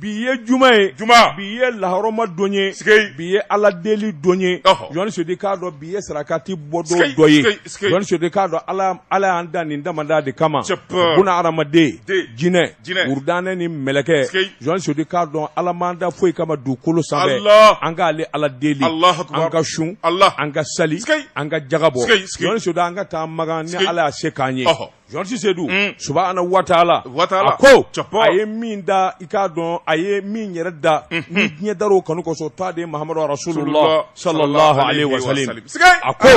Bi ye juma ye juma bi ye lahɔrɔma don ye s bi ye ala deli don ye jɔn sedu k'a dɔn bi ye sarakati bɔ don dɔ ye jɔn sedu k'a dɔn ala y'an da nin damadɔ de kama bunaadamaden jinɛ wurudanɛ ni mɛlɛkɛ jɔn sedu k'a dɔn ala m'an da foyi kama dugukolo sanfɛ an k'ale ala deli an ka sun an ka sali an ka jaka bɔ jɔn sedu an ka taa makan ni ala y'a se k'an ye Georges Seydou mm. subahana watala a ko a ye min da i k'a dɔn a ye min yɛrɛ da mm -hmm. nin diɲɛ dar'o kanu kosɔn t'a de mahamadu rasulullah sallallahu alaihi wa sallam a ko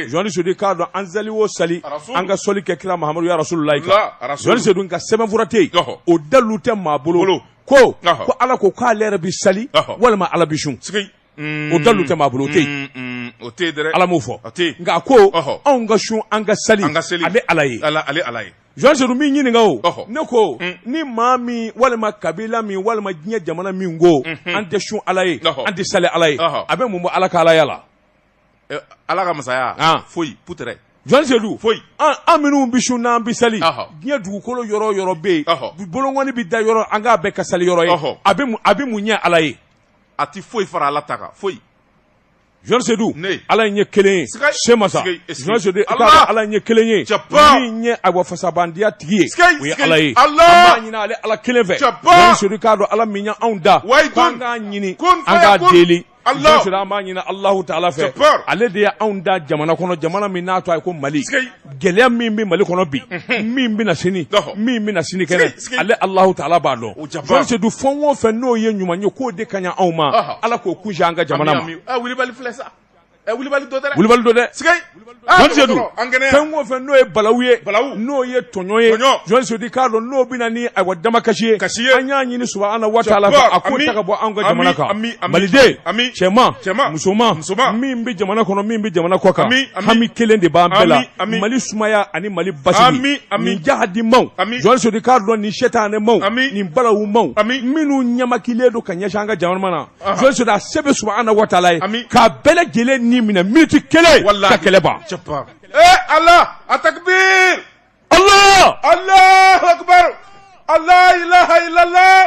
Georges Seydou k'a dɔn an sali o sali an ka sɔli kɛ kira mahamadu ya rasulullah kan Georges Seydou nka sɛbɛnfura tɛ yen o dalu tɛ maa bolo ko ko ala ko k'ale yɛrɛ bɛ sali walima ala bɛ sun o dalu tɛ maa bolo o tɛ o tɛ dɛ ala m'o fɔ nka a ko anw ka sun an ka sali an ka sali ale ala ye ala ale ala ye jɔn sedu min ɲininka o ne ko mm. ni maa min walima kabila min walima diɲɛ jamana min ko mm-hmm. an tɛ sun ala ye an tɛ sali ala ye a bɛ mun bɔ ala ka alaya la eh, ala ka masaya ah. foyi putere jɔn sedu foyi an minnu bɛ sun n'an bɛ sali diɲɛ dugukolo yɔrɔ yɔrɔ bɛ yen bolonkɔni bɛ da yɔrɔ an k'a bɛɛ ka sali yɔrɔ ye a bɛ mun ɲɛ ala ye a tɛ foyi fara ala ta kan foyi jɔn Sedu ala ye kelen ye se masa jɔn sedu ala ye kelen ye min ye awa fisamantiya tigi ye o ye ala ye an b'a ɲini ale ala kelen fɛ jɔn sedu k'a dɔn ala min y'anw da k'an k'a ɲini an k'a deli jɔn sedu an b'a ɲini alahu taala fɛ ale de y' anw da jamana kɔnɔ jamana min n'a tɔgɔ ye ko mali gɛlɛya min bɛ mali kɔnɔ bi min bɛ na sini min bɛ na sinikɛnɛ ale alahu taala b'a dɔn jɔn sedu fɛn o fɛn n'o ye ɲuman ye k'o de ka ɲi anw ma ala k'o kunsin an ka jamana ma wulibali don dɛ jɔn sedu fɛn o fɛn n'o ye balaw ye n'o ye tɔɲɔn ye jɔn sedu k'a dɔn n'o bɛ na ni ayiwa damakasi ye an y'a ɲini subahana watala fɛ a k'o ta ka bɔ an ka jamana kan maliden cɛman musoman min bɛ jamana kɔnɔ min bɛ jamana kɔ kan hami kelen de b'an bɛɛ la mali sumaya ani mali basigi nin jahadimaw jɔn sedu k'a dɔn nin sɛtanɛmaw nin balawumaw minnu ɲɛmakilen don ka ɲɛsin an ka jamana na jɔn sedu a se bɛ subahana watala ye k'a bɛɛ lajɛlen ni minɛ miniti kelen ka kɛlɛ ban ee ala a takibir allah allahu akbar la ilaha illallah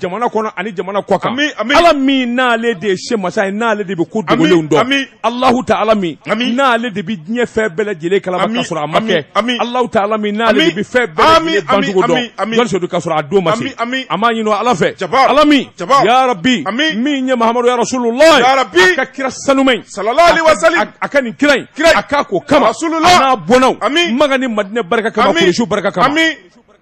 jamana kɔnɔ ani jamana kɔ kan ala min n'ale de ye se masa ye n'ale de bɛ ko dogolenw dɔn alahu taala min n'ale de bɛ diɲɛ fɛn bɛɛ lajɛlen kalama ka sɔrɔ a ma kɛ alahu taala min n'ale de bɛ fɛn bɛɛ lajɛlen bancogo dɔn jɔn sedu ka sɔrɔ a don ma se an b'a ɲini ala fɛ ala min ya rabi min ye mahamadu ya rasulula a ka kira sanuma in a kanu kira in a k'a ko kama n'a bɔnnaw makan ni madinɛ barika kama kuresiw barika kama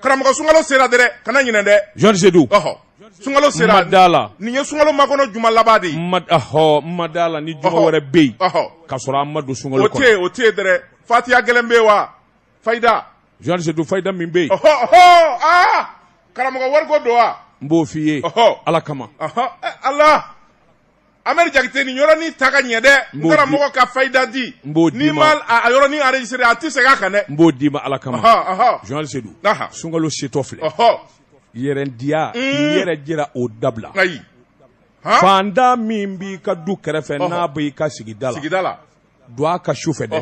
Karamɔgɔ sunkalo sera dɛrɛ kana ɲinɛ dɛ journaliste Seydou ɔhɔ sunkalo sera ma d'a la nin ye sunkalo makɔnɔ juma laban de ye ma d ahɔɔ ma d'a la ni juma Ɔhɔ. wɛrɛ be ye ɔhɔ k'a sɔrɔ an ma don sunkalo o te kɔnɔ ye o te ye dɛrɛ fatiya gɛlɛn be ye wa fayida journaliste Seydou fayida min be ye ɔhɔ ɔhɔ aa karamɔgɔ wariko don wa n b'o f'i ye ɔhɔ Ala kama ɔhɔ ɛ Ala Ameri Jakite nin yɔrɔnin ta ka ɲɛ dɛ n karamɔgɔ ka fayida di n b'o d'i ma n'i ma a yɔrɔnin enregistré a tɛ segin a kan dɛ n b'o d'i ma ala kama journaliste Seydou sunkalo setɔ filɛ yɛrɛndiya i yɛrɛ jira o dabila ayi fantan min b'i ka du kɛrɛfɛ n'a b'i ka sigida la don a kan su fɛ dɛ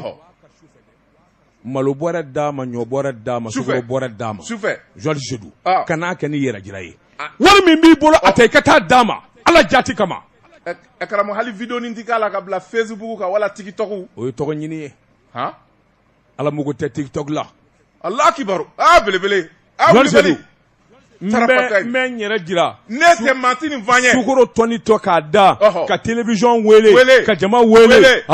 malo bɔrɛ d'a ma ɲɔ bɔrɛ d'a ma sukaro bɔrɛ d'a ma sufɛ journaliste Seydou kan'a kɛ ni yɛrɛ jira ye wari min b'i bolo a ta i ka taa d'a ma ala jati kama karamɔgɔ hali vidéonin tɛ k'a la ka bila Facebook kan wala TikTok o ye tɔgɔ ɲini ye ala mago tɛ TikTok la ala akibaru aa belebele N n yɛrɛ jira ne tɛ maa ni ye sukoro tɔni tɔ k'a da ka télévision weele ka jama weele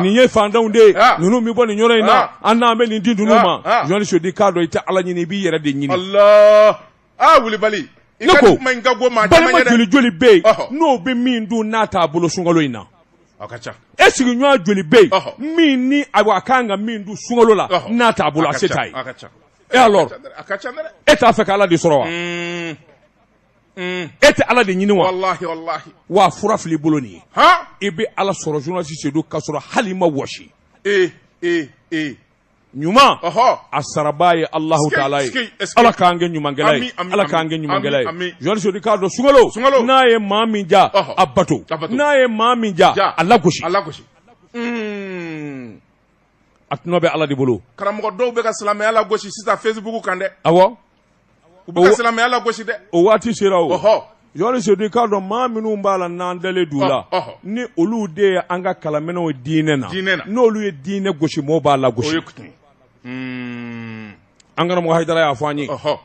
nin ye fantanw de ye ninnu bɛ bɔ nin yɔrɔ in na an n'an bɛ nin di ninnu ma journaliste Seydou k'a dɔn i tɛ ala ɲini i b'i yɛrɛ de ɲini ne ko balima joli joli bɛ yen n'o bɛ min dun n'a t'a bolo sunkalo in na e sigiɲɔgɔn joli bɛ yen min ni a ka kan ka min dun sunkalo la n'a t'a bolo a se t'a ye et alors e t'a fɛ ka ala de sɔrɔ wa mm. Mm. e tɛ ala de ɲini wa wa fura fili bolo nin ye i bɛ ala sɔrɔ journaliste Seydou k'a sɔrɔ hali i ma wɔsi e, e, e. ɲuman a sarabaa ye alahu taala ye ala k'an kɛ ɲumankɛla ye ala k'an kɛ ɲumankɛla ye journaliste Seydou k'a dɔn sunkalo n'a ye maa min diya a bato n'a ye maa min diya a lagosi mm. a tɔnɔ bɛ Ala de bolo, karamɔgɔ dɔw bɛ ka silamɛya lagosi sisan Facebook kan dɛ, awɔ, u bɛ ka o- silamɛya lagosi dɛ, o waati sera o. ɔhɔ, journaliste Seydou i k'a dɔn maa minnu b'a la n'an dalen d'u la Ɔ, ɔhɔ. ni olu de ye an ka kalamɛnɛw ye diinɛ na Diinɛ na. n'olu ye diinɛ gosi mɔɔw b'a lagosi ye kutu ye. Hmm, an karamɔgɔ Hayidara y'a fɔ an ye ɔhɔ,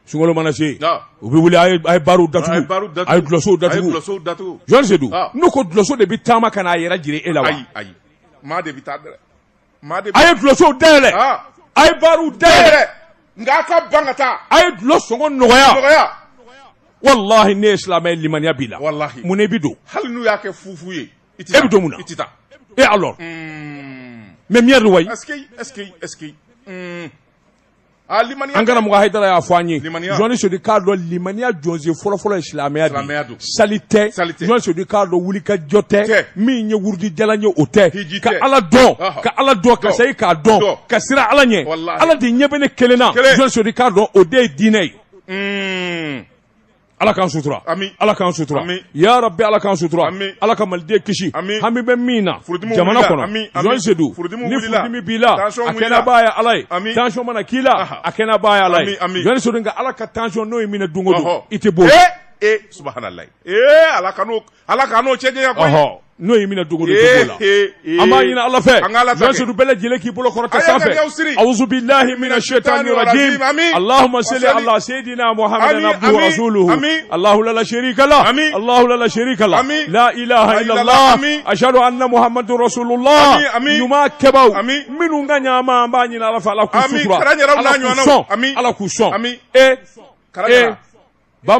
sunkalo mana se u bɛ wuli a ye barw datugu a ye dulɔsow datugu journaliste Seydou n'u ko dulɔso de bɛ taama ka n'a yɛrɛ jira e la wa maa de bɛ taa dɛ a ye dulɔsow dayɛlɛ a ye barw dayɛlɛ nka a ka ban ka taa a ye dulɔ sɔngɔ nɔgɔya walahi n'e ye silamɛ ye limaniya b'i la walahi mun na i bɛ don hali n'u y'a kɛ fufu ye i tɛ taa e bɛ don mun na i tɛ taa et alors mais miyaari wayi est ce que est ce que est ce que Ah, an karamɔgɔ hayidara y'a fɔ an ye journaliste Seydou k'a dɔn limaniya jɔsen fɔlɔfɔlɔ ye silamɛya de sali tɛ journaliste Seydou k'a dɔn wulikajɔ tɛ min ye wurudijalan ye o tɛ ka ala dɔn ka ala dɔn ka sayi k'a dɔn ka siran ala ɲɛ ala de ɲɛ bɛ ne kelen na journaliste Seydou k'a dɔn o de ye diinɛ ye hmm. Ala k'an sutura ala k'an sutura ya bɛ ala k'an sutura ala ka maliden kisi hami bɛ min na jamana kɔnɔsedu ni b'i la a kɛnɛba ye ala yec mana k'i la a kɛnɛba ye ala yeso ka ala ka tancɔn n'o ye minɛ don i tɛ bɔ ee ala Ala ka n'o cɛ diya kɔhɔ n'o ye minɛ dugu la an b'a ɲini ala fɛ andu bɛɛ lajɛlen k'i bolo kɔrɔta sanfɛ awbi lahi minɛ su tan ni alahama seli ala seyidi n'a ma hamidu alala se ka alala se ka lahalahala asadu an mahamadula ɲuman kɛba minnu ka ɲaaama an b'a ɲini ala ala ala k'u sɔn e ba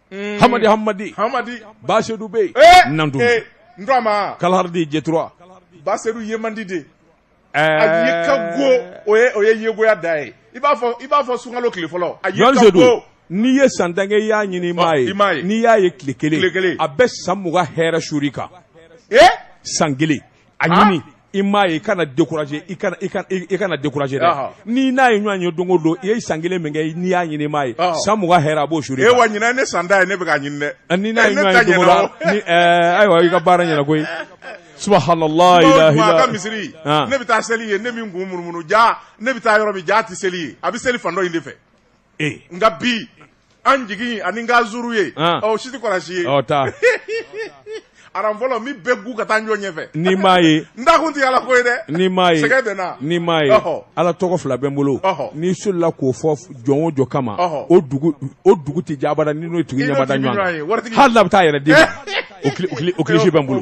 mm. hamadi hamadi hamadi Ba Seydou bɛ yen eh, nandu eh, ndurama kalardi J trois Ba Seydou ye man di dɛ eh. a ye ka go o ye o ye yegoya da ye i b'a fɔ i b'a fɔ sunkalo tile fɔlɔ a ye ka go n'i ye san tan kɛ i y'a ɲini i m'a ye n'i y'a ye tile kelen a bɛ san mugan hɛrɛ suuru i kan san kelen a ɲini i m'a ye i kana décourager i kana i kana i kana décourager dɛ ni n'a ye ɲɔgɔn ye don o don i ye san kelen min kɛ n'i y'a ɲini i m'a ye san mugan hɛrɛ a b'o suuru i kan e wa ɲinan ne san tan ye ne bɛ k'a ɲini dɛ ni n'a ye ɲɔgɔn ye don o don ni ɛɛ ayiwa i ka baara ɲɛna koyi subhanallah ilaha ila ka misiri ne bɛ taa seli yen ne min kun munumunu jaa ne bɛ taa yɔrɔ min jaa a tɛ seli yen a bɛ seli fan dɔ in de fɛ nka bi an jigin ani n ka zuru ye si tɛ kɔlɔsi ye aran fɔlɔ min bɛ gu ka taa ɲɔgɔn ɲɛfɛ n'i m'a ye n da kun tɛ ala ko ye dɛ n'i m'a ye n'i m'a ye ala tɔgɔ fila bɛ n bolo n'i solila k'o fɔ jɔn o jɔn kama o dugu tɛ jɛ abada ni n'o tigi ɲɛ ma da ɲɔgɔn kan hali n'a bɛ taa yɛrɛ di bɛ n bolo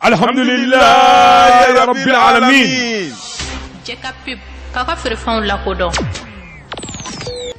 alhamdulilayi rabbil alamin. jɛ ka pub k'aw ka feerefɛnw lakodɔn.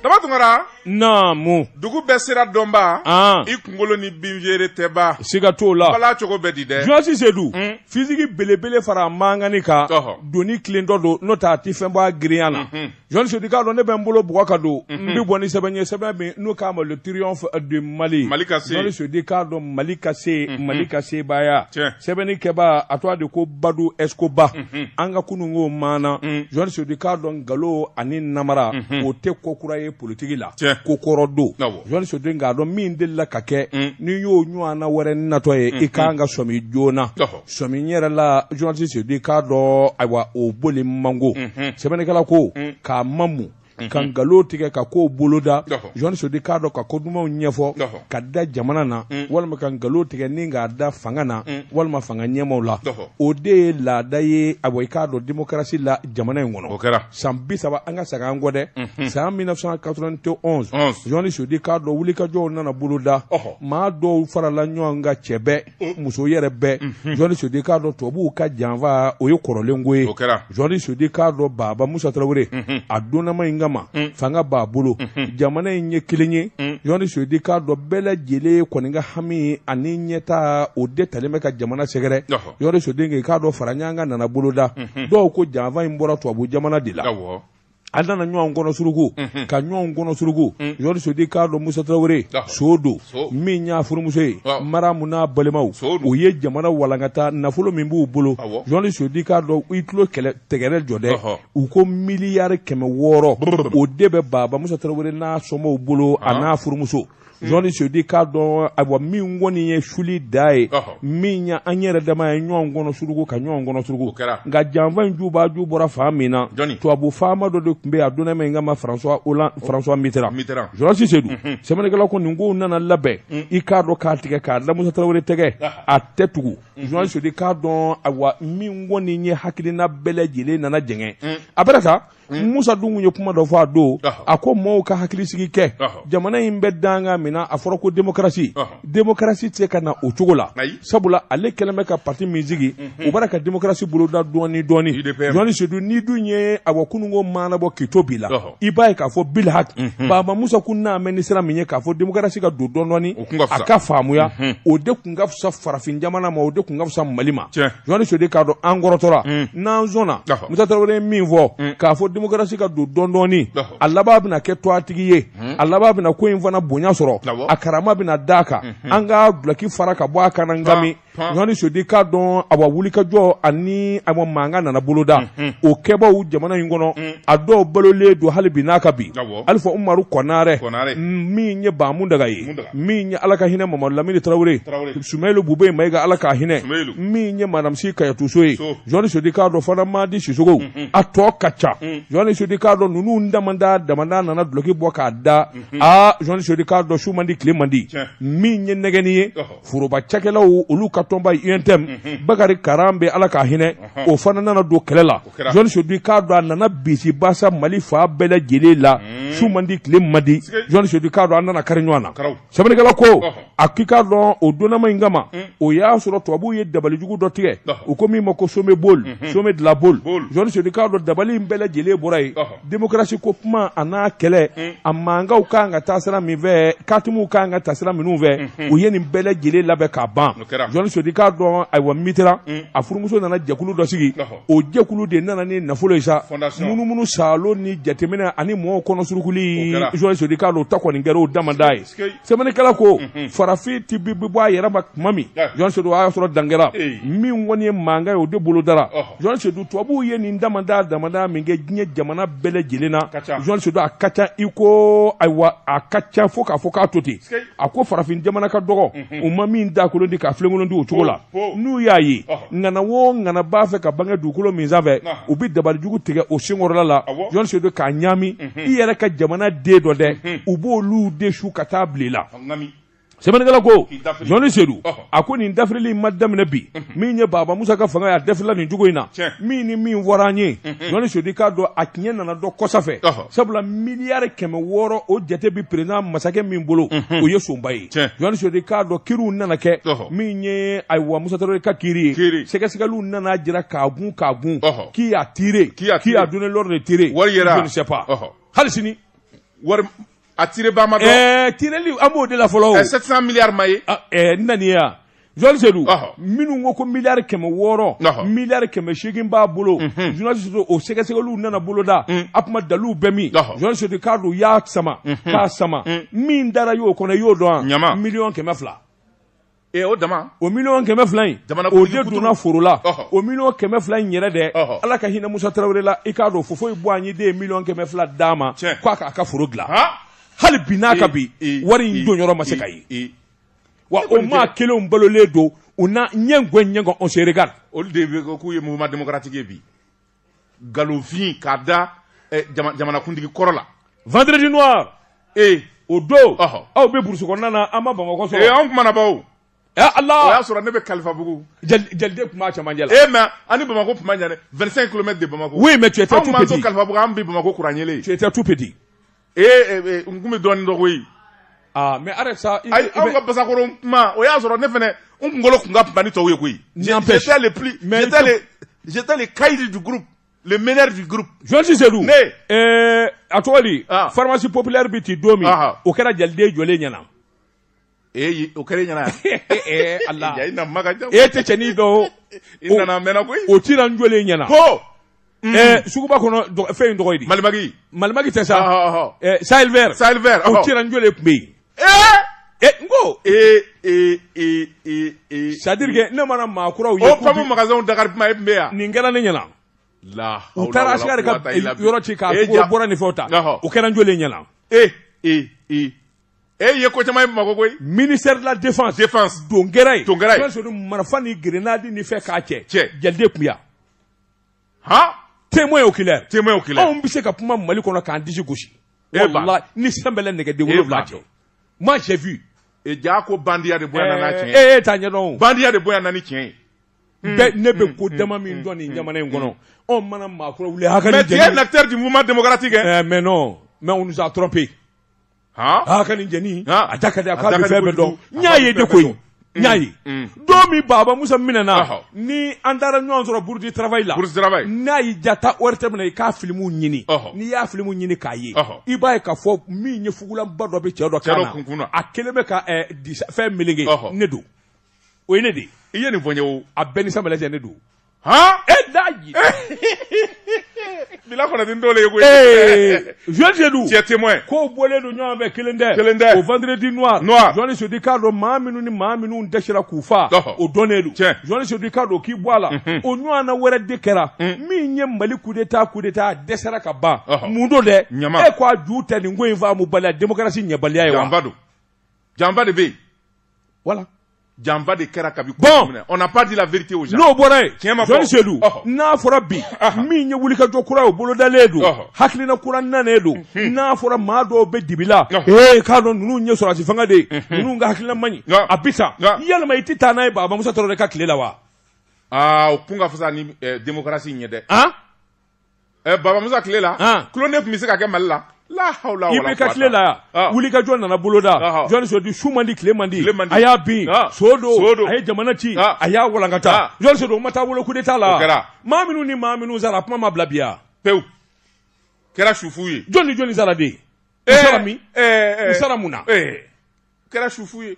daba tunkara. naamu. dugu bɛɛ sira dɔnba. an. i kunkolo ni binfeere tɛba. siga t'o la. bala cogo bɛɛ di dɛ. journaliste Seydou. Hmm? fiziki belebele fara mankani kan. doni tilentɔ don n'o tɛ a ti fɛn bɔ a girinya na. Hmm, hmm. Journaliste Seydou k'a dɔn ne bɛ n bolo bugɔ ka don n bɛ bɔ ni sɛbɛn ye sɛbɛn min n'u k'a ma le triomphe du Mali journaliste Seydou k'a dɔn mali ka se mali ka sebaaya sɛbɛnni kɛba a tɔgɔ de ko badu Escobar an ka kununko maana journaliste Seydou k'a dɔn nkalon ani namara o tɛ ko kura ye politigi la ko kɔrɔ don journaliste Seydou k'a dɔn min delila ka kɛ n'i y'o ɲɔgɔnna wɛrɛ natɔ ye i kan ka sɔmi joona Sɔmi n yɛrɛ la journaliste Seydou k'a dɔn ayiwa o boli mango, unhun, sɛbɛnnikɛla ko, un, k'a mamu, unhun, ka nkalon tigɛ ka kow boloda, ɔhɔ, journaliste Seydou k'a dɔn ka ko dumanw ɲɛfɔ, ɔhɔ, k'a da jamana na, un, walima ka nkalon tigɛ ni k'a da fanga na, un, walima fanga ɲɛmaaw la, ɔhɔ, o de ye laada ye ayiwa i k'a dɔn démocratie la jamana in kɔnɔ, o kɛra, san 30 an ka segin an kɔ dɛ, unhun, san 1991, journaliste Seydou k'a dɔn wulikajɔw nana boloda, ɔhɔ, maa dɔw farala ɲɔgɔn kan cɛ bɛɛ muso yɛrɛ bɛɛ journaliste Seydou k'a dɔn tubabuw ka janfa o ye kɔrɔlenko ye journaliste Seydou k'a dɔn baba musa tarawele a donna min kama fanga b'a bolo jamana in ye kelen ye journaliste Seydou k'a dɔn bɛɛ lajɛlen kɔni ka hami ani ɲɛta o de talen bɛ ka jamana sɛgɛrɛ journaliste Seydou k'a dɔn fara ɲɔgɔn kan nana boloda dɔw ko janfa in bɔra tubabu jamana de la a nana ɲɔgɔn kɔnɔ suruku unhun, ka ɲɔgɔn kɔnɔ suruku Mm. journaliste Seydou k'a dɔn musa tarawele Ah. surtout So. min y'a furumuso ye Ah. maramu n'a balimaw So don. u ye jamana walankata nafolo min b'u bolo Awɔ. journaliste Seydou k'a dɔn i tulo kɛlɛ tɛgɛrɛ jɔ dɛ Ɔhɔ. u ko miliyari kɛmɛ wɔɔrɔ Brrr. o de bɛ baba musa tarawele n'a somaaw bolo a Ah. n'a furumuso journaliste Seydou k'a dɔn ayiwa min kɔni ye suli da ye min ye an yɛrɛ dama ye ɲɔgɔn kɔnɔ suruku ka ɲɔgɔn kɔnɔ suruku nka janfa in juba ju bɔra fan min na tubabu faama dɔ de tun bɛ a donna min kama François Mitterrand journaliste Seydou sɛbɛnnikɛlaw ko nin kow nana labɛn i k'a dɔn k'a tigɛ k'a da Musa Tarawele tɛgɛ a tɛ tugu journaliste Seydou k'a dɔn ayiwa min kɔni ye hakilina bɛɛ lajɛlen nana jɛngɛ a bɛna ta Mm. Musa dun ye kuma dɔ fɔ a don a ko maaw ka hakili sigi kɛ jamana in bɛ danga min na a fɔra ko démocratie démocratie tɛ se ka na o cogo la sabula ale kɛlen bɛ ka pati min sigi mm-hmm. o b'a la ka démocratie boloda dɔɔni dɔɔni journaliste Seydou ni dun ye awa kununko maana bɔ k'i to bi la i b'a ye k'a fɔ bilhak mm-hmm. baba musa kun nanen bɛ ni sira min ye k'a fɔ démocratie ka don dɔɔni dɔɔni a ka faamuya mm-hmm. o de kun ka fisa farafin jamana ma o de kun ka fisa mali ma Journaliste Seydou k'a dɔn an kɔrɔtɔra n'an sɔnna Musa Tarawele ye min fɔ k'a fɔ démocratie ka don dɔɔni dɔɔni a laban bɛna kɛ tɔgɔtigi ye a laban bɛna ko in fana bonya sɔrɔ a karama bɛna da a kan an ka dulɔki fara ka bɔ a kan na nka journaliste Seydou k'a dɔn awa wulikajɔ ani awa mankan nana boloda o kɛbaw jamana in kɔnɔ a dɔw balolen don hali bi n'a ka bi Alifa Umaru Kɔnarɛ min ye Ba Muntaga ye min ye ala ka hinɛ Mamadu Lamini tarawele Sumeyilu Bubɛyi Mayiga ala ka hinɛ min ye madamu Si Kajatu So ye journaliste Seydou k'a dɔn fana madi Sisoko mm, mm. a tɔ ka ca mm. journaliste Seydou k'a dɔn ninnu damada damada nana dulɔki bɔ k'a da mm-hmm. a journaliste Seydou k'a dɔn su man di tile man di min ye nɛgɛni ye foroba cakɛlaw olu ka tɔnba ye UNTM mm-hmm. Bakari Karanbɛ ala ka hinɛ o fana nana don kɛlɛ la journaliste Seyidu k'a dɔn a nana bisibasa Mali fan bɛɛ lajɛlen la hmm. su man di tile man di journaliste Seyidu k'a dɔn a nana kari ɲɔgɔn na sɛbɛnnikɛla ko a k'i k'a dɔn o donnama in kama hmm. o y'a sɔrɔ tubabuw ye dabalijugu dɔ tigɛ u ko min ma ko sommet Baule hmm. sommet de la Baule journaliste Seyidu k'a dɔn dabali in bɛɛ lajɛlen bɔra yen demokarasi ko kuma a n'a kɛlɛ a mankanw ka kan ka taa sira min fɛ katimuw ka kan ka taa sira minnu fɛ u ye nin bɛɛ lajɛlen labɛn k'a ban journaliste Seyidu k'a dɔn ayiwa Mitterrand a furumuso nana jɛkulu dɔ sigi o jɛkulu de nana ni nafolo ye sa munumunu sa ni jateminɛ ani mɔgɔw kɔnɔ surukuli journaliste Seyidu k'a dɔn o ta kɔni kɛra o damada ye sɛbɛnnikɛla ko mhm. farafin ti bi bɔ a yɛrɛ ma tuma min journaliste Seyidu a y'a sɔrɔ dangɛra min kɔni ye mankan ye o de bolodara journaliste Seyidu tubabuw ye nin damada damada min kɛ diɲɛ jamana bɛɛ lajɛlen na journaliste Seyidu a ka ca i ko ayiwa a ka ca fo k'a fɔ k'a to ten a ko farafin jamana ka dɔgɔ u ma min dakolon di k'a filenkolon di o cogo la n'u y'a ye ŋana wo ŋana b'a fɛ ka bange dugukolo min sanfɛ u bɛ dabalijugu tigɛ o senkɔrɔla la journaliste Seyidu k'a ɲaami i yɛrɛ ka jamana den dɔw dɛ u b'olu de su ka taa bila i la sɛbɛnnikɛla ko journaliste Seyidu a ko nin dafirili in ma daminɛ bi min ye baba musa ka fanga ye a dafirila nin cogo in na Tiɲɛ. min ni min fɔra an ye journaliste Seyidu k'a dɔn a tiɲɛ nana dɔn kɔsa fɛ Ɔhɔ. sabula miliyari kɛmɛ wɔɔrɔ o jate bi par exemple masakɛ min bolo o ye sonba ye Tiɲɛ. journaliste Seyidu k'a dɔn kiriw nana kɛ Ɔhɔ. min ye ayiwa musa tarawele ka kiri ye Kiri. sɛgɛsɛgɛliw nana jira k'a gun k'a gun Ɔhɔ. qui a tiré, qui a donné l'ordre de tirer. Je ne sais pas. Ɔhɔ. hali sini wari A tiré Bamakɔ ɛɛ tireli an b'o de la fɔlɔ o, 700 milliards ma ye, a ɛɛ n na n'i ye wa, journaliste Seyidu, ɔhɔ, minnu ko ko miliyari kɛmɛ wɔɔrɔ, ɔhɔ, miliyari kɛmɛ seegin b'a bolo, unhun, journaliste Seyidu o sɛgɛsɛgɛliw nana boloda, un, a tuma daluw bɛ min, ɔhɔ, journaliste Seyidu k'a dɔn u y'a sama, unhun, k'a sama, un, min dara i y'o kɔnɔ i y'o dɔn wa, ɲama, miliyɔn kɛmɛ fila Ee o dama o miliyɔn kɛmɛ fila in dama o de donna foro la o miliyɔn kɛmɛ fila in yɛrɛ dɛ ala ka hinɛ musa tarawele la i k'a dɔn Houphouët-Boigny de ye miliyɔn kɛmɛ fila d'a ma k'a k'a ka foro dilan hali bi n'a ka bi wari in don yɔrɔ ma se ka ye wa o maa kelenw balolen don u na ɲɛ ɲɔgɔn on se regarde olu de k'u ye mouvement démocratique ye bi nkalonfin k'a da eh, jama- jamanakuntigi kɔrɔ la vendredi noir ee o don Ɔhɔ. aw bɛ burusi kɔnɔna na an ma bamakɔ ee sɔrɔ anw kumana baw ɛ Ala o y'a sɔrɔ ne bɛ kalifabugu jali- jaliden tun b'a cɛmancɛ la ee mais an ni bamako tun man jan dɛ 25 kilomètres de bamako oui mais tu étais tout petit kalifabugu an bɛ bamako kuran yeelen tu étais tout petit ee n tun bɛ dɔɔnin dɔn koyi aa mais arrête ça ayi anw ka basakoro kuma o y'a sɔrɔ ne fana n kunkolo tun ka bon ni tɔw ye koyi j'étais le plus j'étais le j'étais le caïd du groupe le meneur du groupe journaliste Seyidu ne ɛɛ a tɔgɔ di pharmacie populaire bɛ ti don min o kɛra jaliden jɔlen ɲɛna Ee o kɛra ɲɛna ee ala e tɛ cɛnin dɔn i nana mɛn koyi o cira n jɔlen ɲɛna ko suguba kɔnɔ fɛn in tɔgɔ di Malimag Malimag tɛ sa o cira n jɔlen tun bɛ yen n ko ee c'est à dire que ne mana maa kuraw ye ko magasin dakari kuma e tun bɛ yan nin kɛra ne ɲɛna u taara Achcar ka yɔrɔ ci k' bɔra nin fɛn ta o kɛra n jɔlen ɲɛna ee e ye ko caman ye bamakɔ koyi ministère de la défense défense don kɛra yen Don kɛra yen. sɔrɔ marifa ni grenade ni fɛn k'a cɛ Cɛ. jaliden kun bɛ yan han témoin oculaire témoin oculaire anw bɛ se ka kuma mali kɔnɔ k'an disi gosi Eh ben. Wallahi, ni sanbɛlɛ nɛgɛden Eh wolonwula ben. cɛ moi j'ai vu e ja ko bandiya de bonyana n'a tiɲɛ ee t'a ɲɛdɔn o. bandiya de bonyana ni tiɲɛ ye Bɛɛ- ne bɛ ko dama min dɔn nin jamana in kɔnɔ anw mana maakura wuli hakili mais tu es un acteur du mouvement démocratique hein? Eh, mais non mais on nous a trompé aa ka nin jeni a da ka di a k'a bɛ fɛn bɛɛ dɔn n y'a ye de koyi n y'a ye don min baba musa minɛna ni an taara ɲɔgɔn sɔrɔ bourse du travail la n'a y'i diya taa ORTM na i k'a filimu ɲini n'i y'a filimu ɲini k'a ye i b'a ye k'a fɔ min ye fugulanba dɔ bɛ cɛ dɔ kun na a kelen bɛ ka fɛn meleke ne don o ye ne de i ye nin fɔ n ye o a bɛɛ ni sanbɛlɛ cɛ ne don han e daji bila kɔnɔ ti n t'o le ye koyi ee Jɔn Seydou tu es témoin kow bɔlen don ɲɔgɔn fɛ kelen tɛ Kelen tɛ. o vendredi noir Noir. Jɔn Seydou k'a dɔn maa minnu ni maa minnu dɛsɛra k'u faa Ɔhɔ. o dɔnnen don Tiɲɛ. Jɔn Seydou k'a dɔn k'i bɔ a la o ɲɔgɔnna wɛrɛ de kɛra min ye Mali coup d'état coup d'état dɛsɛra ka ban Ɔhɔ. mun don dɛ Ɲama. e ko a ju tɛ nin ko in faamubaliya démocratie ɲɛbaliya ye wa janfa don janfa de bɛ yen voilà janfa de kɛra kabi bon on n'a pas dit la vérité aux gens n'o bɔra yen tiɲɛ ma fɔ Jɔn Seydou n'a fɔra bi min ye wulikajɔ kura ye o bolodalen don hakilina kura nanen don n'a fɔra maa dɔw bɛ dibi la ee k'a dɔn ninnu ye sɔrɔdasi fanga de ye ninnu ka hakilina man ɲi a bɛ taa yɛlɛma i tɛ taa n'a ye baba musa tarawele ka tile la wa aa o kun ka fisa ni démocratie ye dɛ Ɛ baba musa tile la tulolo de tun bɛ se ka kɛ mali la IBK tile la wulikajɔ nana boloda Jɔn Seydou su man di tile man di a y'a bin so don a ye jamana ci a y'a walankata Jɔn Seydou o ma taa wolo coup d'état la maa minnu ni maa minnu sara a kuma ma bila biya pewu kɛra su fu ye jɔn ni jɔnni sara de u sara min u sara mun na kɛra sufu ye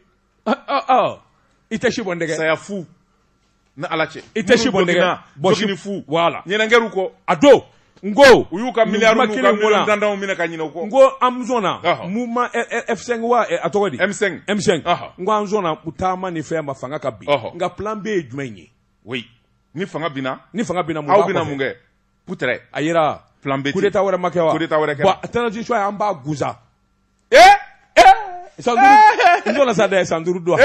i tɛ si bɔn saya fu ni ala cɛ i tɛ si bɔn bɔsini fu wala ɲkɛw kɔ a don n ko u y'u ka mi danw minɛ ka ɲinin ko n ko an na a tɔgɔ dimisɛn n ko an u taama ni fɛn ma fanga ka bi nka p bɛ ye jumɛn ye o ni fanga ni fanga bɛna mun kɛ pte a jira p bɛta wɛrɛ ma kɛ wɛrɛ a tɛnasi an b'a gsa ee san duuru n sɔnna sa dɛ san duuru don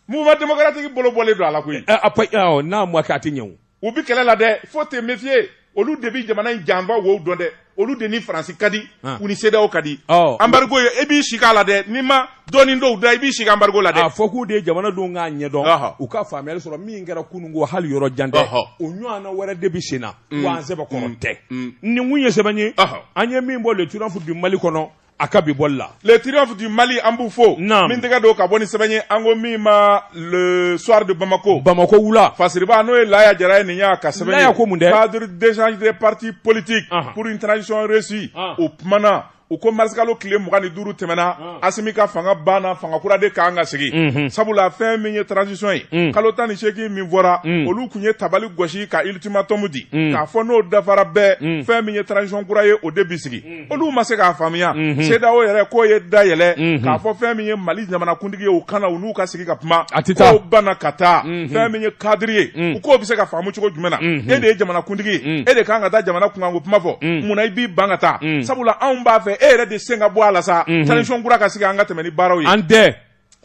mouvement démocratique bolo bɔlen don a la koyi n'a ma kɛ a tɛ ɲɛ o u bi kɛlɛ la dɛ faut te méfier olu de bi jamana in janfa aw o dɔn dɛ olu de ni faransi ka di u ni CEDEAO ka di embargo ye e b'i sigi a la dɛ n'i ma dɔɔnin dɔw da i b'i sigi embargo la dɛ a fɔ k'u de ye jamanadenw k'a ɲɛdɔn u ka faamuyali sɔrɔ min kɛra kunun ko hali yɔrɔ jan tɛ o ɲɔgɔnna wɛrɛ de bi sen na mm. wa an sɛbɛn kɔnɔ mm. tɛ mm. nin kun ye sɛbɛn ye an ye min bɔ le triomphe du Mali kɔnɔ a ka bi bɔli la le triomphe du Mali an b'u fo n bi n tɛgɛ don ka bɔ ni sɛbɛn ye an ko min ma le soir de bamako bamako wula fasiriba n'o ye laya jara ye nin y'a ka sɛbɛn ye laya ko mun dɛ cadre d'échange des partis politiques pour une transition réussie o kumana u ko marisikalo tile mugan ni duuru tɛmɛna ah. asimi ka fanga banna fanga kura de kan ka sigi mhm. sabula fɛn min ye transition ye mm. kalo tan ni seegin min fɔra mm. olu kun ye tabali gosi ka ultimatum di mm. k'a fɔ n'o dafara bɛɛ fɛn min ye transition kura ye o de bi sigi olu ma se k'a faamuya mhm. CEDEAO yɛrɛ k'u ye da yɛlɛ mhm. k'a fɔ fɛn min ye Mali jamanakuntigi ye u ka na u n'u ka sigi ka kuma k'o banna ka taa fɛn min ye cadre ye u k'o bɛ se ka faamu cogo jumɛn na e de ye jamanakuntigi ye e de kan ka taa jamana kunkanko kuma fɔ munna i b'i ban ka taa sabula anw b'a fɛ e yɛrɛ de sen ka bɔ a la sa transition kura ka sigi an ka tɛmɛ ni baaraw ye an tɛ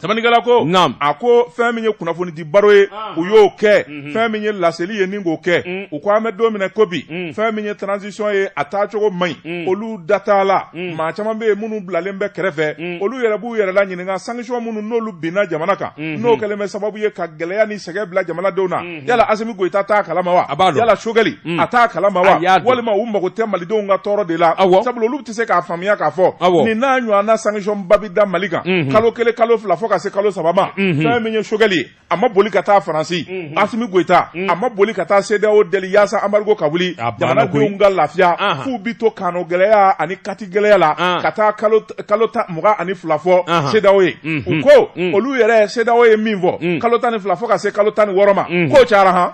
samanikɛla ko a ko fɛn min ye kunnafoni di baro ye u y'o kɛ fɛn min ye laseli ye ni k'o kɛ u ko an bɛ don min na ko bi fɛn min ye transition ye a taacogo man ɲi olu da t'a la maa caman bɛ yen minnu bilalen bɛ kɛrɛfɛ olu yɛrɛ b'u yɛrɛ la ɲininka sanction minnu n'olu binna jamana kan n'o kɛlen bɛ sababu ye ka gɛlɛya ni sɛgɛn bila jamanadenw na yala Asimi Goyita t'a kalama wa yala Choguel a t'a kalama walima u mago tɛ malidenw ka tɔɔrɔ de la sabu olu tɛ se k'a faamuya k'a fɔ nin n'a ɲɔgɔnna sanction ba bi da mali kan kalo kelen kalo fila fo ka se kalo saba ma fɛn min ye Choguel ye a ma boli ka taa faransi mhm. asimi goyita mhm. a ma boli ka taa CEDEAO deli yaasa embargo ka wuli jamanadenw ka lafiya f'u bi to kano gɛlɛya ani kati gɛlɛya la ka taa kalo ta mugan ani fila fɔ CEDEAO ye mhm. u ko olu yɛrɛ CEDEAO ye min fɔ kalo tan ni fila fɔ ka se kalo tan ni wɔɔrɔ ma k'o cayara han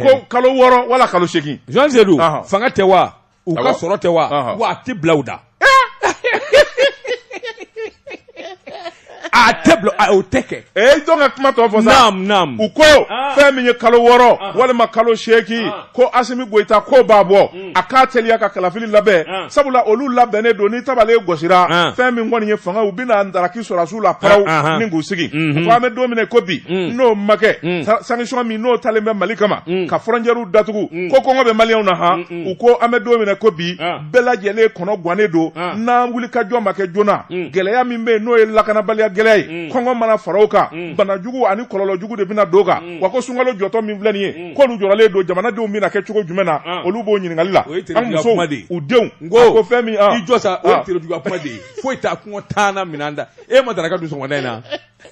ko kalo wɔɔrɔ wala kalo seegin Jean Zedou fanga tɛ wa u ka sɔrɔ tɛ wa wa a tɛ bila u da a tɛ bila o tɛ kɛ ee jɔn ka kuma tɔ fɔ sa u ko ah. fɛn min ye kalo wɔɔrɔ ah. walima kalo seegin ah. ko Asimi Goyita k'o b'a bɔ mm. a k'a teliya ka kalafili labɛn sabula olu labɛnnen don ni tabali gosira fɛn min kɔni ye fanga u bɛn'a taraki sɔrɔdasiw la paraw ni k'u sigi mm-hmm. ko an bɛ don min na ko bi mm. n'o ma kɛ mm. sanction min n'o talen bɛ Mali kama ka frontières datugu ko kɔngɔ bɛ maliyɛnw na han u ko an bɛ don min na ko bi bɛɛ lajɛlen kɔnɔ gannen don n'an wuli ka jɔ ma kɛ joona gɛlɛya min bɛ yen n'o ye lakanabaliya gɛlɛya ye kɔngɔ mana fara o kan banajugu ani kɔlɔlɔjugu de bɛna don kan wa ko sunkalo jɔtɔ min filɛ nin ye k'olu jɔrɔlen don jamanadenw bɛna kɛ cogo jumɛn na olu b'o ɲininkali la an musow u denw ko fɛn min jɔ sa o ye kuma de ye foyi t'a kɔngɔ tanana minɛn da e ma daraka dun sɔgɔma in na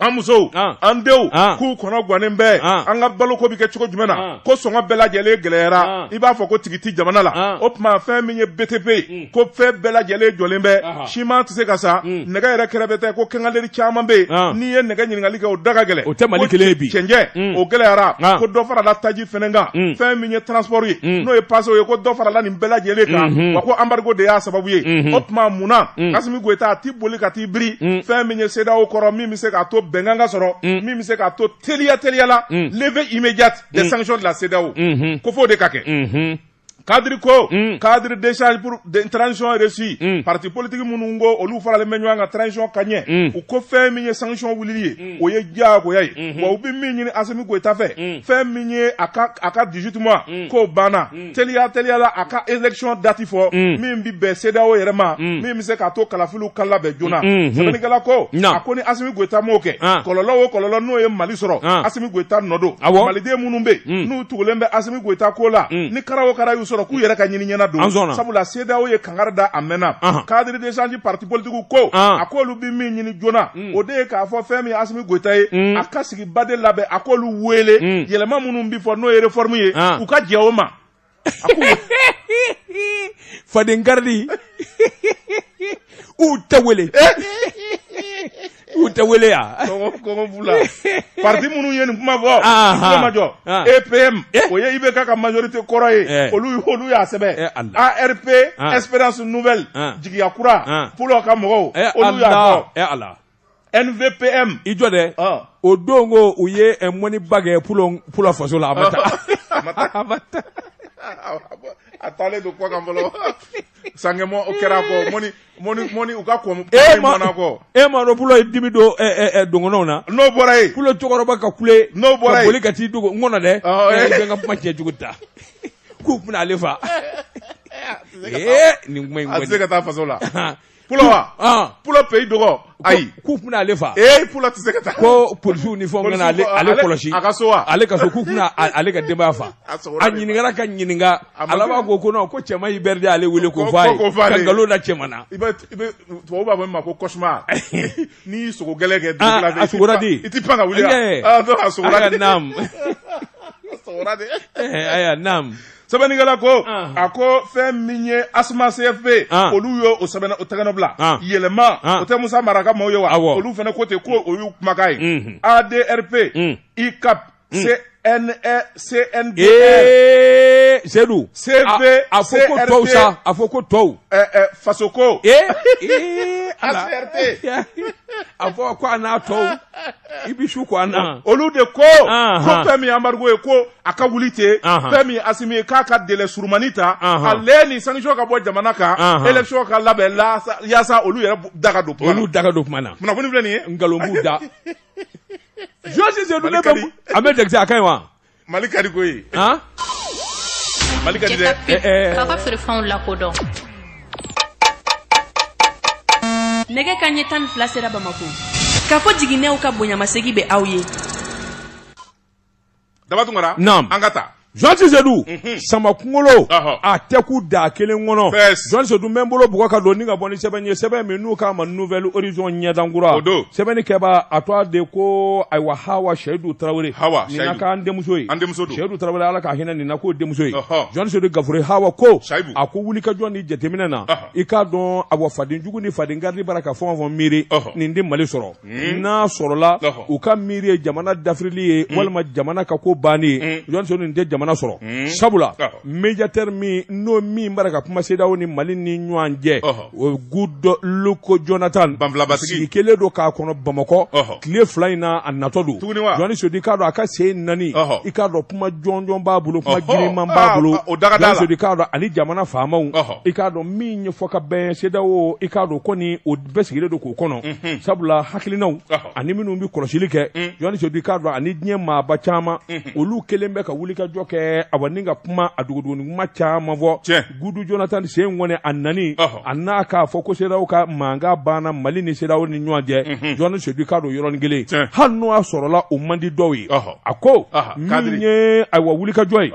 an musow an denw k'u kɔnɔ gannen bɛɛ an ka baloko bɛ kɛ cogo jumɛn na ko sɔngɔ bɛɛ lajɛlen gɛlɛyara i b'a fɔ ko tigi tɛ jamana la o tuma fɛn min ye btp ye mm. ko fɛn bɛɛ lajɛlen jɔlen bɛ siman tɛ se ka san mm. nɛgɛ yɛrɛ kɛrɛbɛtɛ ko quincaillerie caman bɛ yen n'i ye nɛgɛ ɲininkali kɛ o da ka gɛlɛn o tɛ mali kelen ye bi cɛncɛn mm. o gɛlɛyara ko dɔ farala taji fɛnɛ kan fɛn min ye transport ye n'o ye pasew ye ko dɔ farala nin bɛɛ lajɛlen kan mm-hmm. wa ko embargo de y'a sababu ye mm-hmm. o tuma mun na mm. k'asimi goyita a tɛ boli ka biri mm. fɛn min ye CEDEAO kɔrɔ min bɛ se k'a to bɛnkan ka sɔrɔ mm. min bɛ se k'a to teliya teliya la mm. levée immédiate des mm. sanctions de la CEDEAO mm-hmm. ko f'o de ka kɛ mm-hmm. cadre ko mm. cadre d'échange pour de, transition réussie mm. parti politique minnu ko olu faralen bɛ ɲɔgɔn kan transition ka ɲɛ mm. u ko fɛn min ye sanction wulili ye mm. o ye diyagoya ye mm -hmm. wa u bɛ min ɲini asimi goyita fɛ mm. fɛn min ye a ka, a ka 18 mois mm. k'o banna mm. teliya teliyala a ka élection dati fɔ mm. min bɛ bɛn CEDEAO yɛrɛ ma mm. min bɛ se k'a to kalafiliw ka labɛn joona mm-hmm. sɛbɛnnikɛla ko a ko ni Asimi Goyita m'o kɛ ah. kɔlɔlɔ o kɔlɔlɔ n'o ye Mali sɔrɔ ah. Asimi Goyita nɔ don Maliden minnu bɛ yen mm. n'u tugulen bɛ Asimi Goyita kɔ la ni kara o kara y'u sɔrɔ k'u yɛrɛ ka ɲini ɲɛna don sabula CEDEAO ye kangari da a mɛnna ah. cadre d'échange parti politique ko a k'olu bɛ min ɲini joona o de ye k'a fɔ fɛn min ye Asimi Goyita ye a ka sigi ba de labɛn a k'olu wele mm. yɛlɛma minnu bɛ fɔ n'o ye réforme ye ah. u ka jɛ o ma faden garidi u tɛ wele eh? u tɛ wele yan kɔngɔ b'u la parti minnu ye nin kuma fɔ kuma ma jɔ EPM o ye IBK ka majorité kɔrɔ ye eh. olu olu y'a sɛbɛn eh, ARP ah. Espérance Nouvelle ah. jigiya kura Pulo ka mɔgɔw olu y'a fɔ. nvpm i jɔ dɛ ɔ o don ko u ye ɛ, mɔniba kɛ pulo pulo faso la a ma taa a ma taa. a ma taa a taalen don kɔ kan fɔlɔ sankɛmɔ o kɛra a kɔ mɔni mɔni mɔni u ka kɔn e ma mɔna kɔ e ma dɔn pulo ye dimi don ɛ, ɛ, ɛ, dɔgɔnɔw na n'o bɔra yen pulo cɛkɔrɔba ka kule N'o bɔra ka yen. boli ka t'i dogo n kɔnɔ dɛ Ɔ, Ɛ, eh. i bɛ n ka kuma cɛ jugu ta k'u bɛna ale faa ee nin kuma in a tɛ se ka taa faso la kɔni Pulo wa pulo pays dogon ayi k'u tɛna ale faa ee pulo tɛ se ka taa ko polisiw ni fɔ ale kɔlɔsi a ka so wa ale ka so k'u tɛna ale ka denbaya faa a ɲininka ka ɲininka ala b'a ko ko ko cɛ i bɛ ale wele ko nkalon da cɛ na tubabu b'a fɔ min ma ko cauchemar n'i ye sugo gɛlɛn kɛ i tɛ pan ka wuli sɛbɛnnikɛla ko a ko fɛn min ye asma cfp olu ye o sɛbɛn o tɛgɛnɔ bila yɛlɛma o tɛ musa mara ka maaw ye wa olu fana ko ten ko o y'u kumakan ye mm-hmm. adrp mm. icap mm. cndr e e. seyidu cv a fɔ ko tɔw sa a fɔ ko tɔw fasoko acrt a fɔ ko a n'a tɔw i bɛ su ko an na olu de ko ko fɛn min embargo ye ko a ka wuli ten fɛn min asimi ye k'a ka délai surumani ta ale ni sanction ka bɔ jamana kan élection ka labɛn yaasa olu yɛrɛ da ka don olu da ka don kuma na kunnafoni filɛ nin ye nkalon b'u da jɔsi a bɛ dɛsɛse a ka ɲi wa mali ka di koyi han mali ka di dɛ k'a ka feerefɛnw lakodɔn nɛgɛ kanɲɛ tan ni fila sera bamako kafo jiginɛw ka bonyamasegi bɛ aw ye daba tunkara naam an ka taa jɔsi seyidu sama kunkolo a tɛ kun daa kelen kɔnɔ jɔsi seyidu n bɛ n bolo bugɔ ka don ni ka bɔ ni sɛbɛn ye sɛbɛn min n'u k'a ma nouvel horizon ɲɛdankura sɛbɛnnikɛbaa tɔgɔ de ko ayiwa hawa seyidu tarawele nin na k'an denmuso ye seyidu tarawele ala ka hinɛ nin na k'o denmuso ye jɔsi seyidu gafure hawa ko a ko wulikajɔ ni jateminɛ na i k'a dɔn awa fadenjugu ni faden garidi bara ka fɛn o fɛn miiri nin tɛ mali sɔrɔ Hmm? n'a sɔrɔla u ka miiri ye jamana dafirili ye hmm. walima jamana ka ko bannen ye hmm. Jɔsi Seyidu nin tɛ jamana sɔrɔ sabula médiateur min n'o min bara ka kuma CEDEAO ni Mali ni ɲɔgɔn cɛ o Goodluck Jonathan sigi kelen don k'a kɔnɔ Bamakɔ tile fila in na a natɔ don Jɔsi Seyidu i k'a dɔn a ka sen nani i k'a dɔn kuma jɔnjɔn b'a bolo kuma giriman b'a ah, bolo Jɔsi Seyidu i k'a dɔn ani jamana faamaw i k'a dɔn min ɲɛfɔ ka bɛn CEDEAO i k'a dɔn ko ni o bɛɛ sigilen don k'o kɔnɔ mhm. sabula hakilinaw ani minnu bɛ kɔlɔsili kɛ mhm. jɔsi seyidu i k'a dɔn ani diɲɛ maaba caman mhm. olu kelen bɛ ka wulikajɔ kɛ awa ni ka kuma a dogodogoni kuma caman fɔ good jonathan sen kɔni a nani a n'a k'a fɔ ko cedeao ka mankan banna mali ni cedeao ni ɲɔgɔn cɛ jɔsi seyidu i k'a dɔn yɔrɔnin kelen hali n'o y'a sɔrɔla o man di dɔw ye a ko min ye ayiwa wulikajɔ ye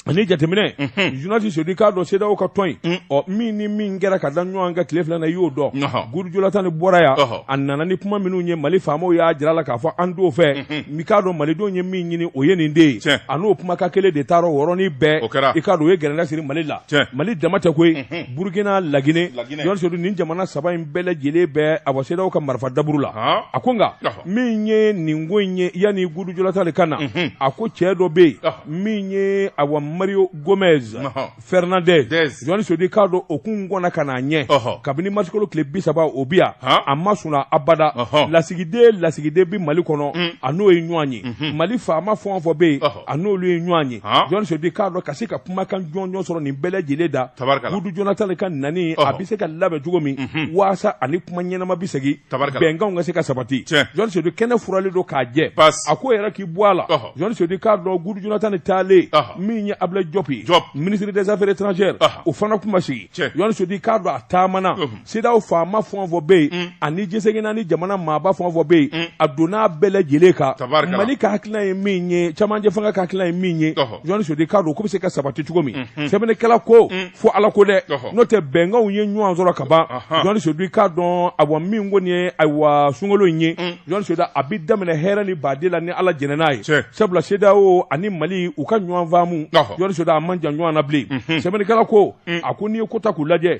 ani jateminɛ Jɔsi Seyidu i k'a dɔn CEDEAO ka tɔn in mm. ɔ min ni min kɛra ka da ɲɔgɔn kan tile fila na i y'o dɔn Good Jonathan nin bɔra yan a nana ni kuma minnu ye Mali faamaw y'a jira a la k'a fɔ an t'o fɛ mm-hmm. i k'a dɔn Malidenw ye min ɲini o ye nin de ye a n'o kumakan kelen de taara o yɔrɔnin bɛɛ i k'a dɔn o ye gɛrɛntɛ siri Mali la Mali dama tɛ koyi mm-hmm. Burukina Lagine Jɔsi Seyidu nin jamana saba in bɛɛ lajɛlen bɛɛ a bɔ CEDEAO ka marifa daburu la a ko nka min ye nin ko in ye yanni Good Jonathan ka na mm-hmm. a ko cɛ dɔ bɛ yen min ye awa mario gomez fernandes jɔn sedu k'a dɔn o kun kɔnna ka n'a ɲɛ kabini marisikalo tile bi saba o bɛ yan a ma sunɔgɔ abada lasigiden lasigiden bɛ mali kɔnɔ mm. a n'o ye ɲɔgɔn ye mhm. mali faama fɛn o fɛn bɛ yen a n'olu ye ɲɔgɔn ye jɔn sedu k'a dɔn ka se ka kumakan jɔnjɔn sɔrɔ nin bɛɛ lajɛlen da gudu jonathan ka nani a bɛ se ka labɛn cogo min mhm. waasa a ni kuma ɲɛnama bɛ segin bɛnkanw ka se ka sabati jɔn sedu kɛnɛ furalen don k'a jɛ a ko yɛrɛ k'i bɔ a la jɔn sedu k'a dɔn gudu jonathan taalen min ye ablaye diop ye ministre des affaires étrangères o fana kun ma sigi jɔn sedu k'a dɔn a taamana CEDEAO faama fɛn o fɛn bɛ yen ani diɲɛ seleke naani jamana maaba fɛn o fɛn bɛ yen a donna bɛɛ lajɛlen kan mali ka hakilina ye min ye camancɛ fanga ka hakilina ye min ye jɔn sedu k'a dɔn k'o bɛ se ka sabati cogo min sɛbɛnnikɛla ko fo ala ko dɛ n'o tɛ bɛnkanw ye ɲɔgɔn sɔrɔ ka ban jɔn sedu k'a dɔn awa min kɔni ye ayiwa sunkalo in ye mm. jɔn sedu a bɛ daminɛ hɛrɛ ni baden la ni ala jɛnna n'a ye sabula CEDEAO ani mali u ka ɲɔgɔn faamu jɔn sedu a man jan ɲɔgɔn na bilen mhm. sɛbɛnnikɛla ko mm. a ko n'i ye kow ta k'u lajɛ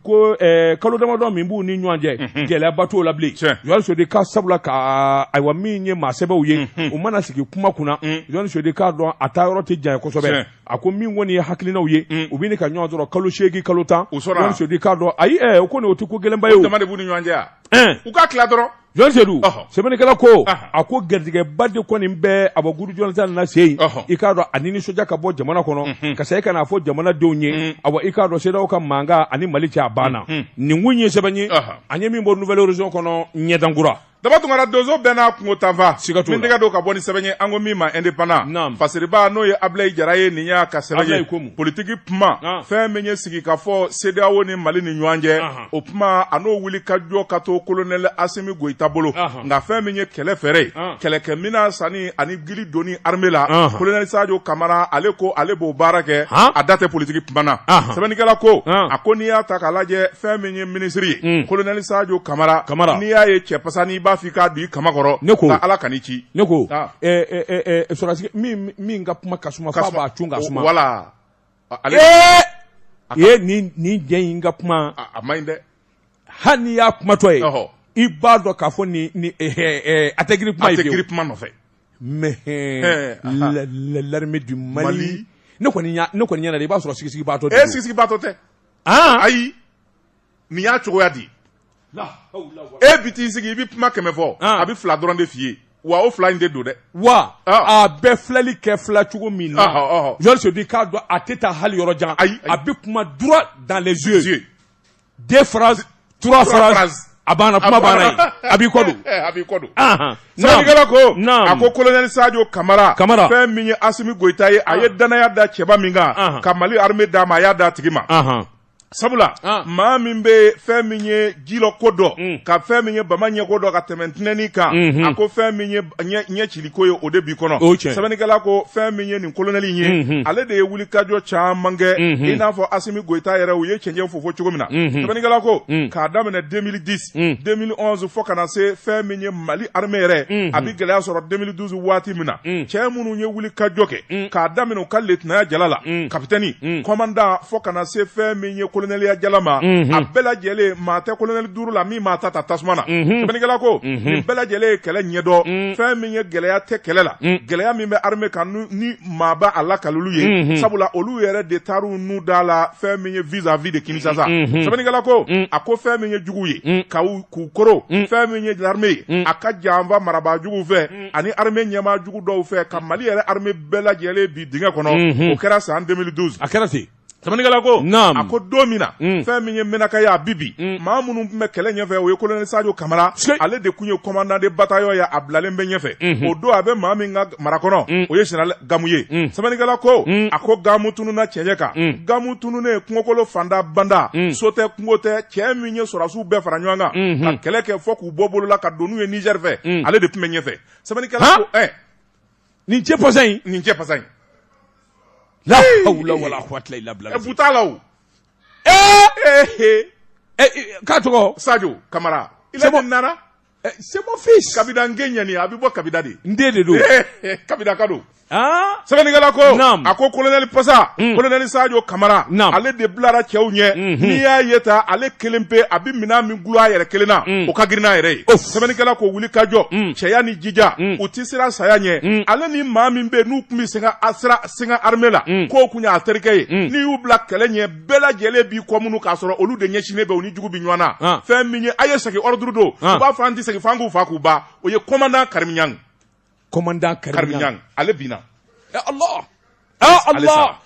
ko eh, kalo damadɔ min b'u ni ɲɔgɔn cɛ mhm. gɛlɛyaba t'o la bilen jɔn sedu ka sabula ka ayiwa min ye maa sɛbɛw ye mhm. u mana sigi kuma kunna mm. jɔn sedu k'a dɔn a taa yɔrɔ tɛ janya kosɛbɛ a ko min kɔni ye hakilinaw ye mm. u bɛ ka ɲɔgɔn sɔrɔ kalo seegin kalo tan jɔn sedu i k'a dɔn ayi ɛ o kɔni o tɛ ko gɛlɛnba ye o dama de b'u ni ɲɔgɔn cɛ yan eh. u ka tila dɔrɔn jɔn sedu sɛbɛnnikɛla ko a ko garijɛgɛba de kɔni bɛ awa gudu jonathan na se yen i k'a dɔn a ni nisɔndiya ka bɔ jamana kɔnɔ mm-hmm. ka segin ka n'a fɔ jamanadenw ye mm-hmm. awa i k'a dɔn CEDEAO ka mankan ani mali cɛ a banna mm-hmm. nin kun ye sɛbɛn ye an ye min bɔ nouvel horizon kɔnɔ ɲɛda kura daba tunkara donso bɛɛ n'a kungo taafan siga t'o la min tɛgɛ don ka bɔ ni sɛbɛn ye an ko min ma indépendant naam fasiriba n'o ye Ablaye Jara ye nin y'a ka sɛbɛn ye politique kuma ah. fɛn min ye sigi ka fɔ CEDEAO ni Mali ni ɲɔgɔn cɛ ah. o kuma a n'o wulikajɔ ka to colonel Asimi Goyita bolo ah. nka fɛn min ye kɛlɛ fɛɛrɛ ye kɛlɛkɛminɛn sanni ani kili donni armée la Ɔnhɔn. colonel Sadio Camara ale ko ale b'o baara kɛ Han? a da tɛ politique kuma na Ɔnhɔn. sɛbɛnnikɛla ko Ɔn. a ko n'i y'a ta k'a lajɛ fɛn min ye ministre ye Mm. colonel Sadio Camara Camara. n'i y'a ye cɛ pasanin i b'a f'i k'a don i kaman kɔrɔ Ne ko. nka Ala kan'i ci ne ko Ah. ɛ, ɛ, ɛ, ɛ, sɔrɔdasi min min ka kuma ka suma f'a b'a cun ka suma voilà Ale ye nin nin jɛ in ka kuma a man ɲi dɛ hali ni y'a kumatɔ ye i b'a dɔn k'a fɔ nin a tɛ girin kuma girin kuma nɔfɛ mais l'armée du Mali ne kɔni ɲɛna i b'a sɔrɔ sigibaatɔ e sigibaatɔ tɛ ayi nin y'a cogoya di e bi t'i sigi i bɛ kuma kɛmɛ fɔ a bɛ fila dɔrɔn de f'i ye wa o fila in de don dɛ wa a bɛ filɛli kɛ filɛ cogo min na yɔrɔ bi k'a dɔn a tɛ taa hali yɔrɔ jan ayi a bɛ kuma droit dans les yeux deux phrases trois phrases a banna kuma banna yen a b'i kɔ don a b'i kɔ don sɛbɛnnikɛla ko a ko kolonɛli sajo kamara kamara fɛn min ye asimi goyita ye a ye danaya da cɛba min kan ka mali armée d'a ma a y'a d'a tigi ma sabula ah. maa min bɛ fɛn min ye jilɔ ko dɔn mm. ka fɛn min ye bama ɲɛko dɔn ka tɛmɛ tinɛni kan mm -hmm. a ko fɛn min ye ɲɛ ciliko ye o de bi kɔnɔ sɛbɛnnikɛla ko fɛn min ye nin kolonɛli in ye mm -hmm. ale de ye wulikajɔ caman kɛ mm -hmm. i n'a fɔ asimi goyita yɛrɛ u ye cɛncɛn fofo cogo min na mm -hmm. sɛbɛnnikɛla ko mm. k'a daminɛ 2010 2011 fo ka na se fɛn min ye Mali armée yɛrɛ a bi gɛlɛya sɔrɔ 2012 waati min na cɛ minnu ye wulikajɔ kɛ k'a daminɛ u ka letinaya jala la kapitɛni kɔmandan fo ka na se fɛn min ye kolonɛliya jala ma a bɛɛ lajɛlen maa tɛ kolonɛli duuru la min m'a ta ta tasuma na sɛbɛnnikɛla ko nin bɛɛ lajɛlen ye kɛlɛ ɲɛdɔn fɛn min ye gɛlɛya tɛ kɛlɛ la gɛlɛya min bɛ armée kan ni maa b'a lakali olu ye unhun, sabula olu yɛrɛ de taara u nun d'a la fɛn min ye vis à vis de Kinshasa unhun. sɛbɛnnikɛla ko Mm. a ko fɛn min ye jugu ye Mm. ka u- k'u koron Mm. fɛn min ye armée ye Mm. a ka janfa marabaa juguw fɛ ani armée ɲɛmaa jugu dɔw fɛ ka Mali yɛrɛ armée bɛɛ lajɛlen bin dingɛ kɔnɔ Mhm. o kɛra san 2012 a kɛra ten Sɛbɛnnikɛla ko, naamu, a ko don min na, un, fɛn min ye Menaka ye a bi bin, un, maa minnu tun bɛ kɛlɛ ɲɛfɛ o ye colonel Sajo Kamara, sikeyi, ale de tun ye commandant de bataillon ye a bilalen bɛ ɲɛfɛ, unhun, o don a bɛ maa min ka mara kɔnɔ, un, o ye général Gamu ye, un, sɛbɛnnikɛla ko, un, a ko Gamu tununna cɛncɛn kan, un, Gamu tununnen kungokolo fanda banda, un, so tɛ kungo tɛ, cɛ min ye sɔrɔdasiw bɛɛ fara ɲɔgɔn kan, unhun, ka kɛlɛ kɛ fɔ k'u bɔ bolo la ka don n'u ye Niger fɛ, un, ale de tun bɛ ɲɛfɛ, sɛbɛnnikɛla ko, han, ɛɛ nin cɛ pasa in nin cɛ pasa in la hawla wala quwwata illa billah bu t'a la o ee k'a tɔgɔ sajo kamara i la bɔ nana c'est mon fils kabida n gen ɲani a bɛ bɔ kabida de n den de don kabida ka don sɛbɛnnikɛla ko a ko kolonɛli pasa kolonɛli sajo kamara ale de bilara cɛw ɲɛ n'i y'a ye ta ale kelen pe a bɛ minɛn min gulon a yɛrɛ kelen na o ka girin n'a yɛrɛ ye sɛbɛnnikɛla ko wulikajɔ cɛya ni jija u tɛ siran saya ɲɛ ale ni maa min bɛ n'u tun bɛ sin sin ka armée la k'o tun y'a terikɛ ye n'i y'u bila kɛlɛ ɲɛ bɛɛ lajɛlen b'i kɔ munu k'a sɔrɔ olu de ɲɛsinnen bɛ u ni jugu bɛ ɲɔgɔn na fɛn min ye a ye segin ordre don u b'a fɔ an tɛ segin fan k'u fa k'u ba o ye commandant Karim Niang commandant Karim Niang ale Allah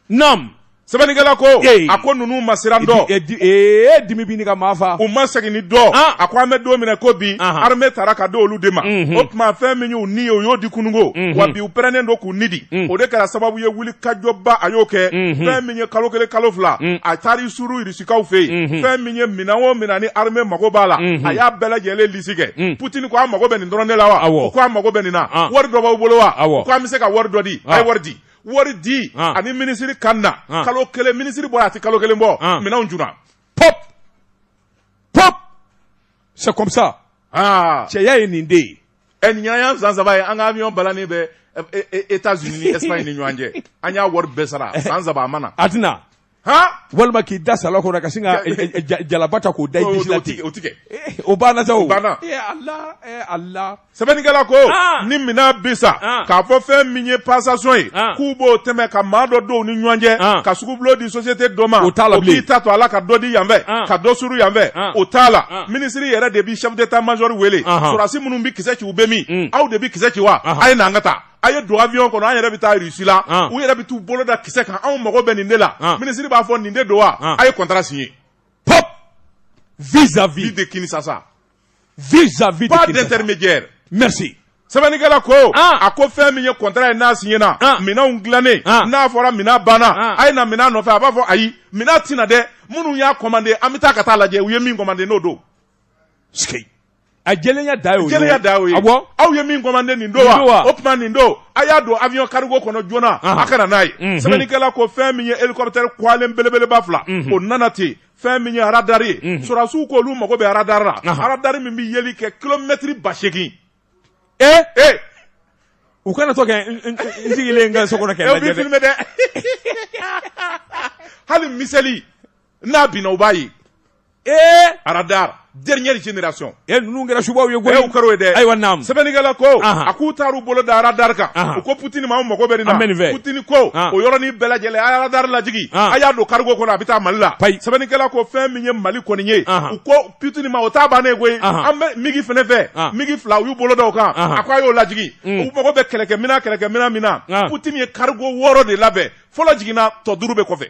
naam sɛbɛnnikɛla ko a ko ninnu ma siran dɔn ee dimi bɛ ɲini ka maa fa u ma seginni dɔn ah. a ko an bɛ don min na ko bi armée taara ka d'olu de ma mhm. o tuma fɛn min y'u ni ye u y'o di kununko mhm. wa bi u pɛrɛnnen don k'u ni di mhm. o de kɛra sababu ye wulikajɔba a y'o kɛ fɛn min ye kalo kelen kalo fila a taara i suru kaw fɛ yen unhun. fɛn min ye minɛn o minɛn ni armée mago b'a la Unhun. a y'a bɛɛ lajɛlen lisi kɛ Mm. Poutine ko a mago bɛ nin dɔrɔn de la wa Awɔ. u ko a mago bɛ nin na Ah. wari dɔ b'aw bolo wa Awɔ. u ko an bɛ se ka wari dɔ di a ye Ah. wari di wari di Ah. ani minisiri ka na Ah. kalo kelen minisiri bɔra a tɛ kalo kelen bɔ Ah. minɛnw jiginna pop pop c'est comme ça aa cɛya ye nin de ye ɛ nin y'an san saba ye an ka avion balannen bɛ ɛ- ɛ- ɛ- États-Unis ni Espagne ni ɲɔgɔn cɛ an y'a wari bɛɛ sara san saba a ma na a tɛna walima k'i da sa kɔnɔ ka sin jalaba ta k'o da o o banna o banna sɛbɛnnikɛla ko ni minɛn bi san k'a fɔ fɛn min ye passation ye k'u b'o tɛmɛ ka maa dɔ don u ni ɲɔgɔn cɛ ka sugubulo di société dɔ ma o t'a la k'i ta to a la ka dɔ di yanfɛ ka dɔ suru yanfɛ o t'a la minisiri yɛrɛ de bɛ chef d'état-major wele sɔrɔdasi minnu bɛ kisɛ ci u bɛ min aw de bɛ kisɛ ci wa a ye na an ka taa a ye don avion kɔnɔ an yɛrɛ bɛ taa Russie la u yɛrɛ bɛ t'u bolo da kisɛ kan anw mago bɛ nin de la minisiri b'a fɔ nin de don wa a ye contrat signer pop vis à vis de Kinshasa vis à vis pas d'intermédiaire merci sɛbɛnnikɛla ko a ko fɛn min ye kɔntara ye n'a siɲɛna minɛnw dilannen n'a fɔra minɛn banna a ye na minɛn nɔfɛ a b'a fɔ ayi minɛn tɛ na dɛ minnu y'a kɔmande an bɛ taa ka t'a lajɛ u ye min kɔmande n'o don A jɛlenya dan y'o ye jɛlenya dan y'o ye aw ye min kɔmande nin don wa o tuma nin don a y'a don avion cargo kɔnɔ joona a ka na n'a ye sɛbɛnnikɛla ko fɛn min ye hélicoptère kwalen belebeleba fila o nana ten fɛn min ye aradari ye sɔrɔdasiw ko olu mago bɛ aradari la aradari min bɛ yeli kɛ kilomɛtiri ba seegin ee ee u kana to ka n sigilen n ka so kɔnɔ filmé dɛ hali miseli n'a binna u b'a ye ee aradar dernière génération e ninnu kɛra subaw ye koyi e u kɛr'o ye dɛ ayiwa naam sɛbɛnnikɛla ko a k'u taar'u bolo da aradar kan u ko Poutine ma an mago bɛ nin na Poutine ko o yɔrɔnin bɛɛ lajɛlen a ye aradar lajigin a y'a don cargo kɔnɔ a bɛ taa Mali la sɛbɛnnikɛla ko fɛn min ye Mali kɔni ye u ko Poutine ma o t'a bannen koyi an bɛ migi fɛnɛ fɛ migi fila u y'u bolo da o kan a ko a y'o lajigin u mago bɛ kɛlɛkɛminɛn kɛlɛkɛminɛn min na Poutine ye cargo wɔɔrɔ de labɛn fɔlɔ jiginna tɔ duuru bɛ kɔfɛ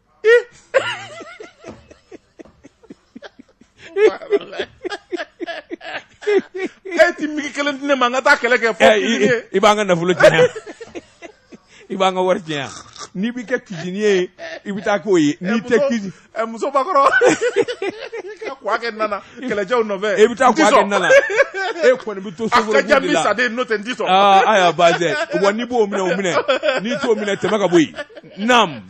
e ti migi kelen di ne ma n ka taa kɛlɛ kɛ fɔ i b'an ka nafolo tiɲɛ yan i b'an ka wari tiɲɛ yan n'i bɛ kɛ cuisinier ye i bɛ taa k'o ye n'i tɛ cuisine muso bakɔrɔ ka kuwa kɛ na na kɛlɛcɛw nɔfɛ i bɛ taa kuwa kɛ na na e kɔni bɛ to soforo de la a ka jan bi saden n'o tɛ n t'i sɔn aa ayiwa baasi tɛ wa n'i b'o minɛ o minɛ n'i t'o minɛ tɛmɛ ka bɔ yen naam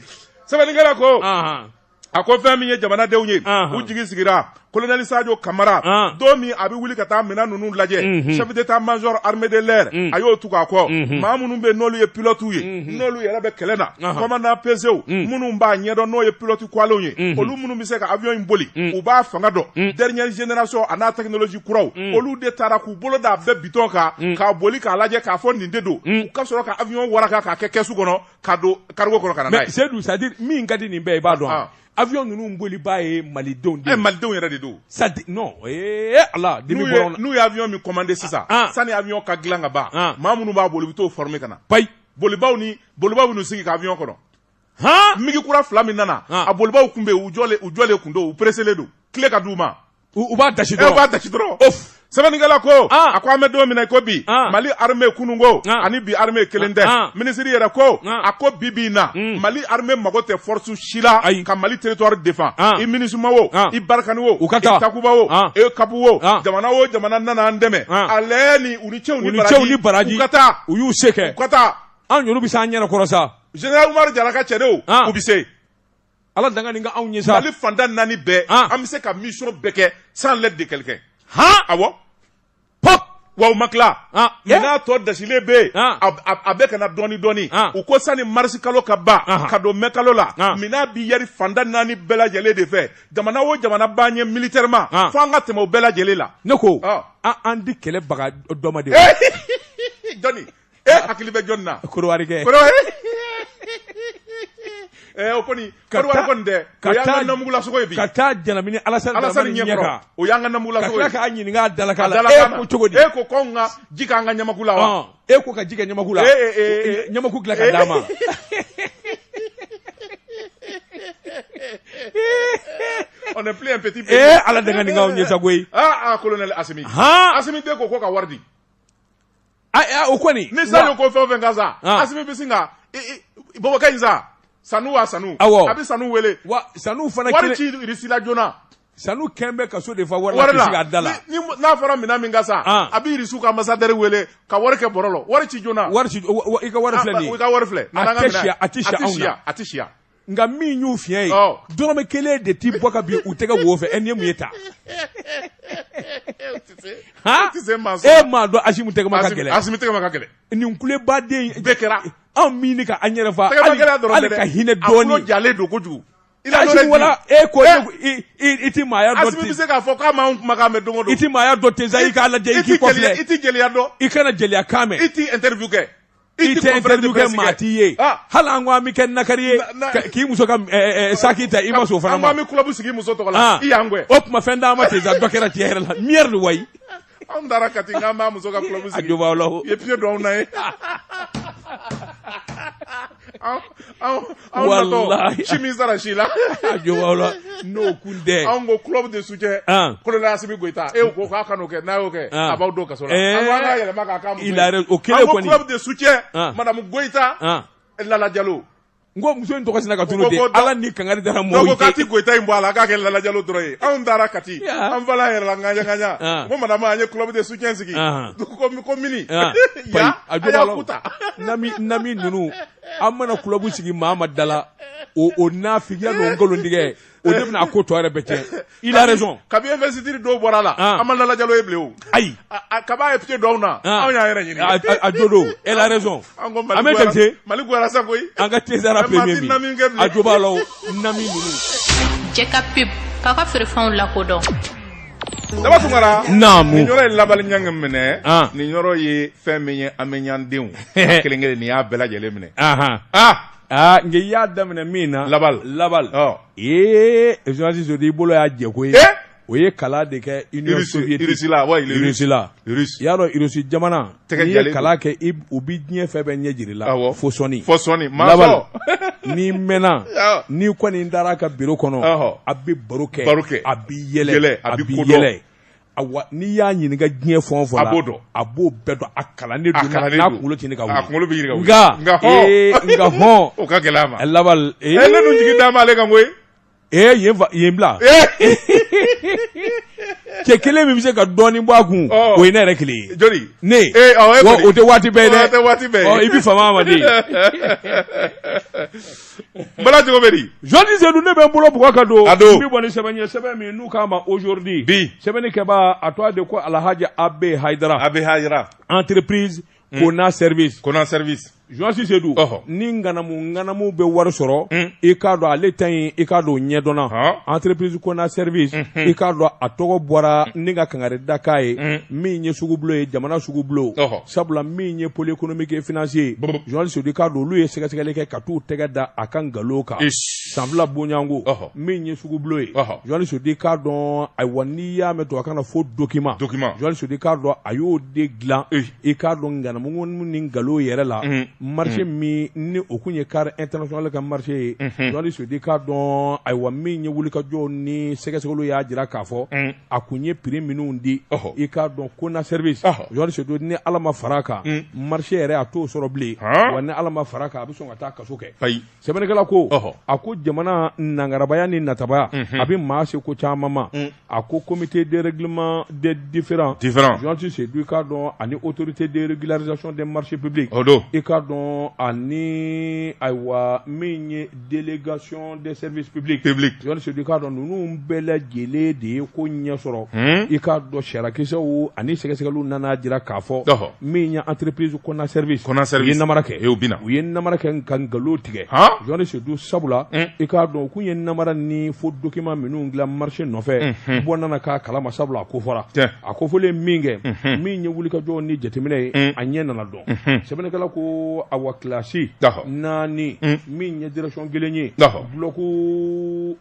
sɛbɛnnikɛla ko a ko fɛn min ye jamanadenw ye u jigi sigira kolonɛli sajo kamara don min a bɛ wuli ka taa minɛn ninnu lajɛ mhm. chef d'état major armée de l'air mhm. a y'o tugu a kɔ mhm. maa minnu bɛ n'olu ye pilotew ye n'olu yɛrɛ bɛ kɛlɛ na commandant pesew minnu b'a ɲɛdɔn n'o ye pilote kuwalenw ye olu minnu bɛ se ka avion in boli u b'a fanga dɔn dernière génération a n'a technologie kuraw olu de taara k'u bolo d'a bɛɛ bitɔn kan k'a boli k'a lajɛ k'a fɔ nin de don u ka sɔrɔ ka avion waraka k'a kɛ kɛsu kɔnɔ k'a don karigo kɔnɔ ka na n'a ye. mais Seyidu c'est à dire min ka di nin bɛɛ i b'a dɔn wa. avion ninnu bolibaa ye malidenw de ye. ɛ eh, malidenw yɛrɛ de don. c'est à dire non ee eh, ala dimi bɔra n n'u ye avion min commander sisan. Ah, ah. sani avion ka dilan ka ban. Ah. maa minnu b'a boli u bɛ t'o former ka na. payi bolibaaw ni bolibaaw bɛ n'u sigi ka avion kɔnɔ. han migi kura fila min nana. a bolibaaw kun bɛ yen u jɔlen u jɔlen kun don u pereselen don kile ka d'u ma. U b'a da b'a dasi dɔrɔn sɛbɛnnikɛla ko a ko an bɛ don min na ko bi mali armée kunun ko ani bi armée kelen tɛ minisiri yɛrɛ ko a ko bi bi na mm. mali armée mago tɛ force si la ayi ka mali territoire défendre i MINUSMA o i Barkhane o i Takuba o EUCAP o jamana o jamana nana an dɛmɛ ale ni u ni ce u ni ce u ni baraji ka taa u y'u se kɛ ka taa an yɛrɛ bɛ se an yɛrɛ kɔrɔ sa général Umaru Jara ka cɛdenw u bɛ se Ala danga nin k'anw ye sa. Mali fanda naani bɛɛ. An. An bɛ se ka mission bɛɛ kɛ sans l'aide de quelqu'un. Han. Awɔ. Pop. Wa u ma tila. An. Minan tɔ dasilen bɛ yen. An. A a a bɛ ka na dɔɔni dɔɔni. An. U ko sani mars kalo ka ban. Anhan. Ka don mai kalo la. An. Minan bɛ yari fanda naani bɛɛ lajɛlen de fɛ. Jamana o jamana b'an ɲɛ militairement. An. Fo an ka tɛmɛ o bɛɛ lajɛlen la. Ne ko. Ɔ. An an di kɛlɛbaga dɔ ma de wa? Jɔni? e hakili bɛ jɔnni na kɔrɔwari kɛ Eh, o kɔni kɔrɔwari kɔni tɛ o y'an ka namugulasogo ye bi ka taa janamini alasani alasani ɲɛ kɔrɔ o y'an ka namugulasogo ye ka tila k'a ɲininka a dalakan la e ko cogo di e ko k'anw ka ji k'an ka ɲamaku la wa e ko ka ji kɛ ɲamaku la eh, eh, ɲamaku dilan ka d'a ma on est plus un petit pays. Eh, ala danga nin k'anw ye sa koyi. Ah, ah, colonel Asimi. Ha! Asimi de ko ko ka wari di. o kɔni ni sajo ko fɛn o fɛn ka san ah. asimi bɛ sin ka bɔbɔkɛ in sa sanu wa sanu a bɛ sanu wele wa sanu fana wari ci irisila joona sanu kɛn bɛ ka so de fa wari la ka da la n'a fɔra minɛn min ka san ah. a bɛ irisiw ka ambassadeur wele ka wari kɛ bɔrɔ la wari ci joona wari i ka wari filɛ nin ye i ka wari filɛ a tɛ si yan a tɛ si anw na a tɛ si yan nka min y'u fiɲɛ ye dɔrɔmɛ kelen de ti bɔ ka bin u tɛgɛ wo fɛ ɛ nin ye mun ye ta e m'a dɔn asimi tɛgɛ ma ka gɛlɛn asimi tɛgɛ ma ka gɛlɛn nin kulebaden bɛɛ kɛra anw min ka an yɛrɛ fa hali ka hinɛ dɔɔni a jalen don kojugu asimi wala e ko i ti maaya dɔn asimi bɛ se k'a fɔ k'a m'anw kumakan mɛn don o don i ti maaya dɔn ten sa i k'a lajɛ i k'i kɔfilɛ i ti jeliya dɔn i kana jeliya kan mɛn i ti interview kɛ i tɛ interview kɛ maa t'i ye hali an ko an bɛ kɛ nakari ye k'i muso ka saki ta i ma sɔn o fana ma an bɛ club sigi muso tɔgɔ la i y'an gɛn o tuma fɛn d'an ma ten sa dɔ kɛra tiɲɛ yɛrɛ la merde wayi anw taara kati k'an b'a muso ka club sigi a jo b'a la o i ye pied don anw na ye min sara si la n'o kun tɛ anw ko club de soutien kolonɛli asimi goyita e ko k'a kan'o kɛ n'a y'o kɛ a b'aw don kaso la y'a yɛlɛma k'a ka o kelen kɔni club de soutien madamu goyita lala jalo n ko muso in tɔgɔ sina ka tunun de ala ni kangari dara mɔgɔw ye k'a ti goyita in bɔ a la k'a kɛ lala jalo dɔrɔn ye anw taara kati an fala yɛrɛ la ŋaɲa ŋaɲa ko madamu an ye club de soutien sigi ko mini ya a jo b'a la o nami nami ninnu an mana club sigi maa ma d'a la o o nafigiya n'o nkalontigɛ o de bɛna a ko tɔ yɛrɛ bɛɛ tiɲɛ il a raison kabi investiture dɔw bɔra a la an ma Lala Jalo ye bilen o ayi kaba ye pied don an na anw y'an yɛrɛ ɲini a jo don elle a raison an ko Mali goyara Mali goyara sa koyi an ka Cesar premier min a jo b'a la o nami ninnu jɛkapibu k'a ka feerefɛnw lakodɔn Daba Tunkara. Naamu. Ni Ɲɔrɔ ye Labali Ɲangi minɛ. An. Ni Ɲɔrɔ ye fɛn min ye Ame Ɲan denw. a kelen kelen n'i y'a bɛɛ lajɛlen minɛ. Ahan. Ah! Aa nka i y'a daminɛ min na. Labali. Labali. Ɔ. Ee journaliste Sedu i bolo y'a jɛ koyi. Ee! O ye kalan de kɛ Union soviétique. Russie la, wa il est russe. Russie la. Russe. I y'a dɔn Russie jamana. tɛgɛ jalen don. N'i ye kalan kɛ u bɛ diɲɛ fɛn bɛɛ ɲɛ jira i la. Awɔ fo sɔnni. Fo sɔnni mansɔn. Lawali n'i mɛnna. Awɔ n'i kɔni taar'a ka biro kɔnɔ. Ɔhɔ a bɛ baro kɛ. Baro kɛ a b'i yɛlɛ. Yɛlɛ a bɛ ko dɔn a b'i yɛlɛ. Awa n'i y'a ɲininka diɲɛ fɛn o fɛn na. A b'o dɔn a b'o bɛɛ dɔn a kalannen don. A kalannen don n'a kunkolo tɛ ɲini ka wuli. A kunkolo bɛ ɲini ka wuli. Nka nka hɔn ee nka hɔn. O ka gɛlɛ a ma. Lawali ee. Ɛ ne dun jigi dalen b'ale kan koyi. Ee yen fa yen bila cɛ kelen min bɛ se ka dɔɔni bɔ a kun Ɔɔ. o ye ne yɛrɛ kelen ye joli ne Ee, awɔ, e wa kɔni. o tɛ waati bɛɛ ye Ɔ, dɛ o tɛ waati bɛɛ ye. Ɔ, i bɛ fama a ma dɛ bala cogo bɛ di journaliste Sedu ne bɛ n bolo bugɔ ka don A don. n bɛ bɔ ni sɛbɛn ye sɛbɛn min n'u k'a ma aujourd'hui Bi. sɛbɛnni kɛbaa a tɔgɔ de ko Alhaji Abe Hayidara Abe Hayidara entreprise Kona service Kona service journaliste Sedu ni ŋanamu ŋanamu bɛ wari sɔrɔ i k'a dɔn ale ta in i k'a dɔn o ɲɛdɔnna entreprise Kona service i k'a dɔn a tɔgɔ bɔra ni ka kangari da k'a ye min ye sugubulo ye jamana sugubulo sabula min ye pôle économique et financier ye journaliste Sedu i k'a dɔn olu ye sɛgɛsɛgɛli kɛ ka t'u tɛgɛ da a ka nkalon kan san fila bonyanko min ye sugubulo ye journaliste Sedu i k'a dɔn ayiwa n'i y'a mɛn tubabukan na a fɔ document journaliste Sedu i k'a dɔn a y'o de dilan i k'a dɔn ŋanamu ni nkalon yɛrɛ la marché min ni o tun ye CARE International ka marché ye jɔnni Sedu k'a dɔn ayiwa min ye wulikajɔ ni sɛgɛsɛgɛli y'a jira k'a fɔ a tun ye prix minnu di i k'a dɔn Kona service jɔnni Sedu ni ala ma fara a kan marché yɛrɛ a t'o sɔrɔ bilen wa ni ala ma fara a kan a bɛ sɔn ka taa kaso kɛ ayi sɛbɛnnikɛla ko a ko jamana nagarabaya ni natabaya a bɛ maa se ko caman ma A ko komte dgkima de difiran difrasi se i k'a dɔn ani otourute dgkizc de marisipbi o don i k'a dɔn ani ayiwa min ye delegasiyɔn dɛsɛpbi ppibilise k'a dɔn ninnu bɛɛ la lajɛlen de ye ko ɲɛ sɔrɔ i k'a dɔn sarakakisɛw ani sɛgɛsɛgɛli nana jira k'a fɔ min ye anppsi kɔnɔnasri kɔnɔnasri ye nara kɛ u bɛna u ye nara kɛ nka nkalon tigɛ jɔnni Sedu sabula i k'a dɔn u tun ye namara ni faux document minnu dilan marché nɔfɛ bɔ nana k'a kalama sabula a ko fɔra a ko fɔlen min kɛ min ye wulikajɔ ni jateminɛ ye a ɲɛ nana dɔn sɛbɛnnikɛla ko awa classe naani min ye direction kelen ye bloc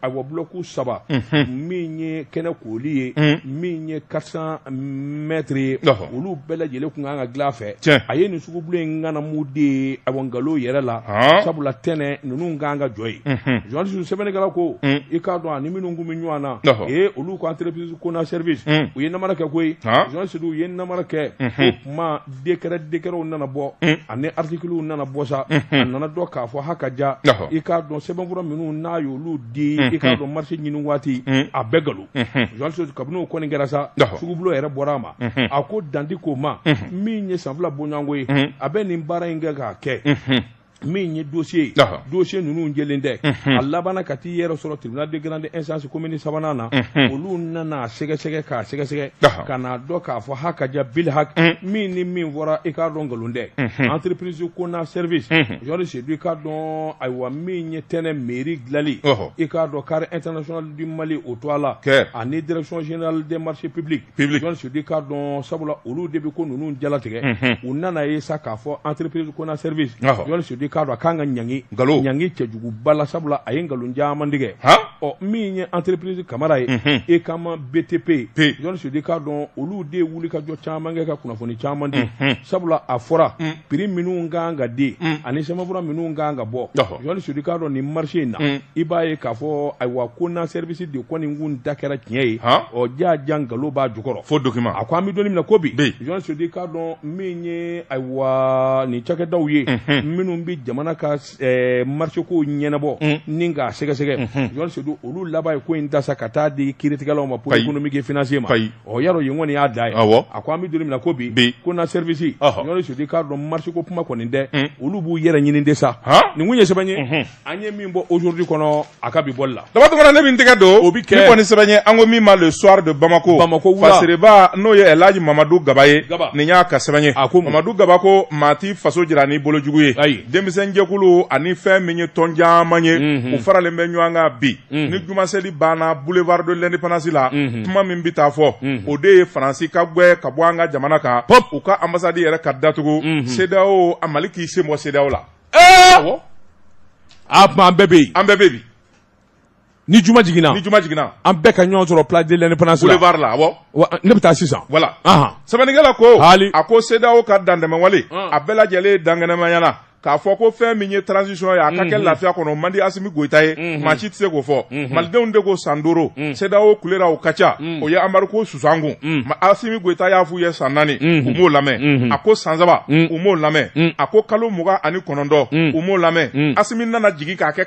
awa bloc saba min ye kɛnɛ kooli ye min ye quatre cents mètres ye olu bɛɛ lajɛlen tun kan ka dilan fɛ a ye nin sugubolo in ŋanamu de awa nkalon yɛrɛ la sabula Tɛnɛ ninnu ka kan ka jɔ yen jɔnni Sedu sɛbɛnnikɛla ko i k'a dɔn ani minnu tun bɛ ɲɔgɔn na ee olu ko entreprise Kona service u ye namara kɛ koyi jɔnni Sedu u ye namara kɛ kuma décret décretw nana bɔ ani articlew nana bɔ sa a nana dɔn k'a fɔ haka ja i k'a dɔn sɛbɛnfura minnu n'a ye olu di i k'a dɔn marché ɲini waati a bɛɛ nkalon jɔnni Sedu kabini o kɔni kɛra sa sugubolo yɛrɛ bɔra a ma a ko dandi ko ma min ye san fila bonyanko ye a bɛ nin baara in kɛ k'a kɛ min ye dossier ye dossier ninnu jɛlen tɛ a labanna ka t'i yɛrɛ sɔrɔ tribunal de grande instance commune sabanan na olu nana sɛgɛsɛgɛ k'a sɛgɛsɛgɛ ka n'a dɔn k'a fɔ haka ja bil hak min ni min fɔra i k'a dɔn nkalon tɛ entreprise Kona service jɔnni Sedu i k'a dɔn ayiwa min ye Tɛnɛ mairie dilanli i k'a dɔn CARE International du Mali o to a la ani direction générale des marchés publics jɔnni Sedu k'a dɔn sabula olu de bɛ ko ninnu jalatigɛ unhun u nan'a ye sa k'a fɔ entreprise Kona service ɔhɔ jɔnni Sedu k'a dɔn a ka kan ka ɲangi ka ɲangi cɛjuguba la sabula a ye nkalon caman tigɛ han ɔ min ye entreprise Kamara ye unhun e kama BTP jɔnni Sedu k'a dɔn olu de ye wulikajɔ caman kɛ ka kunnafoni caman di unhun sabula a fɔra un prix minnu ka kan ka di mm. ani sɛbɛnfura minnu ka kan ka bɔ jɔnni Sedu k'a dɔn nin marché in na mm. i b'a ye k'a fɔ ayiwa Kona service de kɔni nin kun da kɛra tiɲɛ ye ɔ jaa ja nkalon b'a jukɔrɔ faux document a ko an bɛ don min na ko bi jɔnni Sedu k'a dɔn min ye ayiwa nin cakɛdaw ye mm-hmm. minnu bɛ jamana ka eh, marché ko ɲɛnabɔ ni k'a sɛgɛsɛgɛ jɔn sedu olu laban ye ko in ta sa ka taa di kiiritigɛlaw ma pôle économique et financier ma ɔ yarɔ yen kɔni y'a da ye a ko an bɛ don min na ko bi ko na service jɔn sedu k'a dɔn marché ko kuma kɔni tɛ olu b'u yɛrɛ ɲini de sa nin kun ye sɛbɛn ye an ye min bɔ aujourd'hui kɔnɔ a ka bi bɔli la Daba Tunkara ne bɛ n tɛgɛ don o bɛ kɛ ni kɔni sɛbɛn ye an ko min ma le soir de Bamako Bamako wula fasireba n'o ye Elhaji Mamadu Gaba ye Gaba nin y'a ka sɛbɛn ye a ko Mamadu Gaba ko maa t'i faso jira ni bolo jugu ye ayi denmisɛnjɛkulu ani fɛn min ye tɔn caman ye u faralen bɛ ɲɔgɔn kan bi ni jumaseli banna boulevard de l'indépendance la kuma min bɛ taa fɔ o de ye Faransi ka gɛn ka bɔ an ka jamana kan u ka ambassade yɛrɛ ka datugu CEDEAO a Mali k'i sen bɔ CEDEAO la Ɛɛ o tuma an bɛɛ bɛ yen an bɛɛ bɛ bi ni juma jiginna ni juma jiginna an bɛɛ ka ɲɔgɔn sɔrɔ place de l'indépendance la boulevard la ne bɛ taa sisan voilà sɛbɛnnikɛla ko hali a ko CEDEAO ka dantɛmɛwale a bɛɛ lajɛlen dankɛnɛmayana k'a fɔ ko fɛn min ye transition ye a ka kɛ lafiya kɔnɔ man di Asimi Goyita ye maa si tɛ se k'o fɔ malidenw de ko san duuru CEDEAO kulera o ka ca o ye embargo sanction Asimi Goyita y'a f'u ye san naani u m'o lamɛn a ko san saba u m'o lamɛn a ko kalo mugan ani kɔnɔntɔn u m'o lamɛn Asimi nana jigin k'a kɛ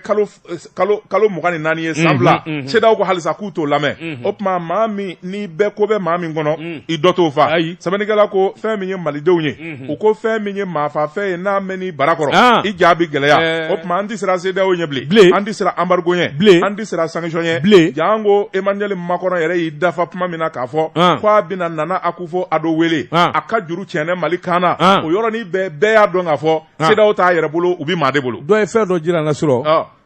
kalo mugan ni naani ye san fila CEDEAO ko halisa k'u t'o lamɛn o tuma maa min n'i bɛɛ ko bɛ maa min kɔnɔ i dɔ t'o fa ayi sɛbɛnnikɛla ko fɛn min ye malidenw ye u ko fɛn min ye maafafɛn ye n'a mɛnn'i bara kɔrɔ ah. i ja bɛ gɛlɛya eh. o tuma an tɛ siran CEDEAO ɲɛ bilen an tɛ siran embargo ɲɛ bilen an tɛ siran sanction ɲɛ bilen jaa an ko Emmanuel Macron yɛrɛ y'i dafa kuma min na k'a fɔ ah. ko a bɛna Nana Akufo Addo wele ah. a ka juru tiɲɛnɛ mali kan na o yɔrɔnin bɛɛ bɛɛ y'a dɔn k'a fɔ CEDEAO t'a yɛrɛ bolo u bɛ maa de bolo dɔ ye fɛn dɔ jira an na surɔ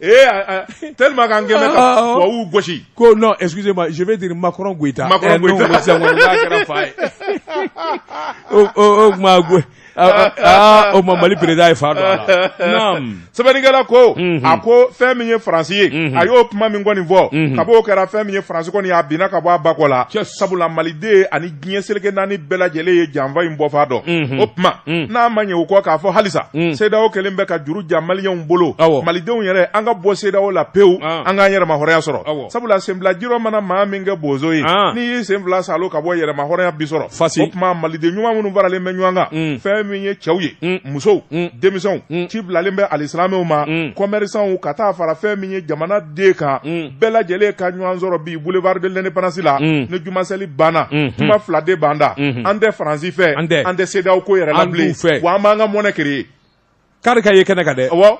Ee tellement an kɛmɛ gosi ko non excusez-moi je vais dire Macron Goyita ma kɛra fa ye o tuma o ma Mali président ye fa sɛbɛnnikɛla ko a ko fɛn min ye faransi ye a y'o kuma min kɔni fɔ kab'o kɛra fɛn min ye faransi kɔni a binna ka bɔ a ba kɔ la sabula maliden diɲɛ seleke naani bɛɛ lajɛlen ye janfa in bɔfan dɔn o tuma n'a ma ɲɛ o kɔ k'a fɔ halisa CEDEAO kɛlen bɛ ka juru ja maliyɛnw bolo malidenw yɛrɛ an ka bɔ CEDEAO la pewu an k'an yɛrɛma hɔrɔnya sɔrɔ sabula senbilajirɔ mana maa min kɛ bozo ye n'i y'i sen fila salo ka bɔ yɛrɛma hɔrɔnya bi sɔrɔ fa o tuma maliden ɲuman minnu faralen bɛ ɲɔgɔn kan fɛn min ye cɛw ye musow denmisɛnw ci bilalen bɛ alisilamɛw ma commerçantw ka taa fara fɛn min ye jamana den kan bɛɛ lajɛlen ka ɲɔgɔn sɔrɔ bi boulevard de l'indépendance la ni jumaseli banna kuma fila de b'an da an tɛ faransi fɛ an tɛ CEDEAO ko yɛrɛ la bilen wa an b'an ka monnaie créer kari ka ye kɛnɛ kan dɛ awɔ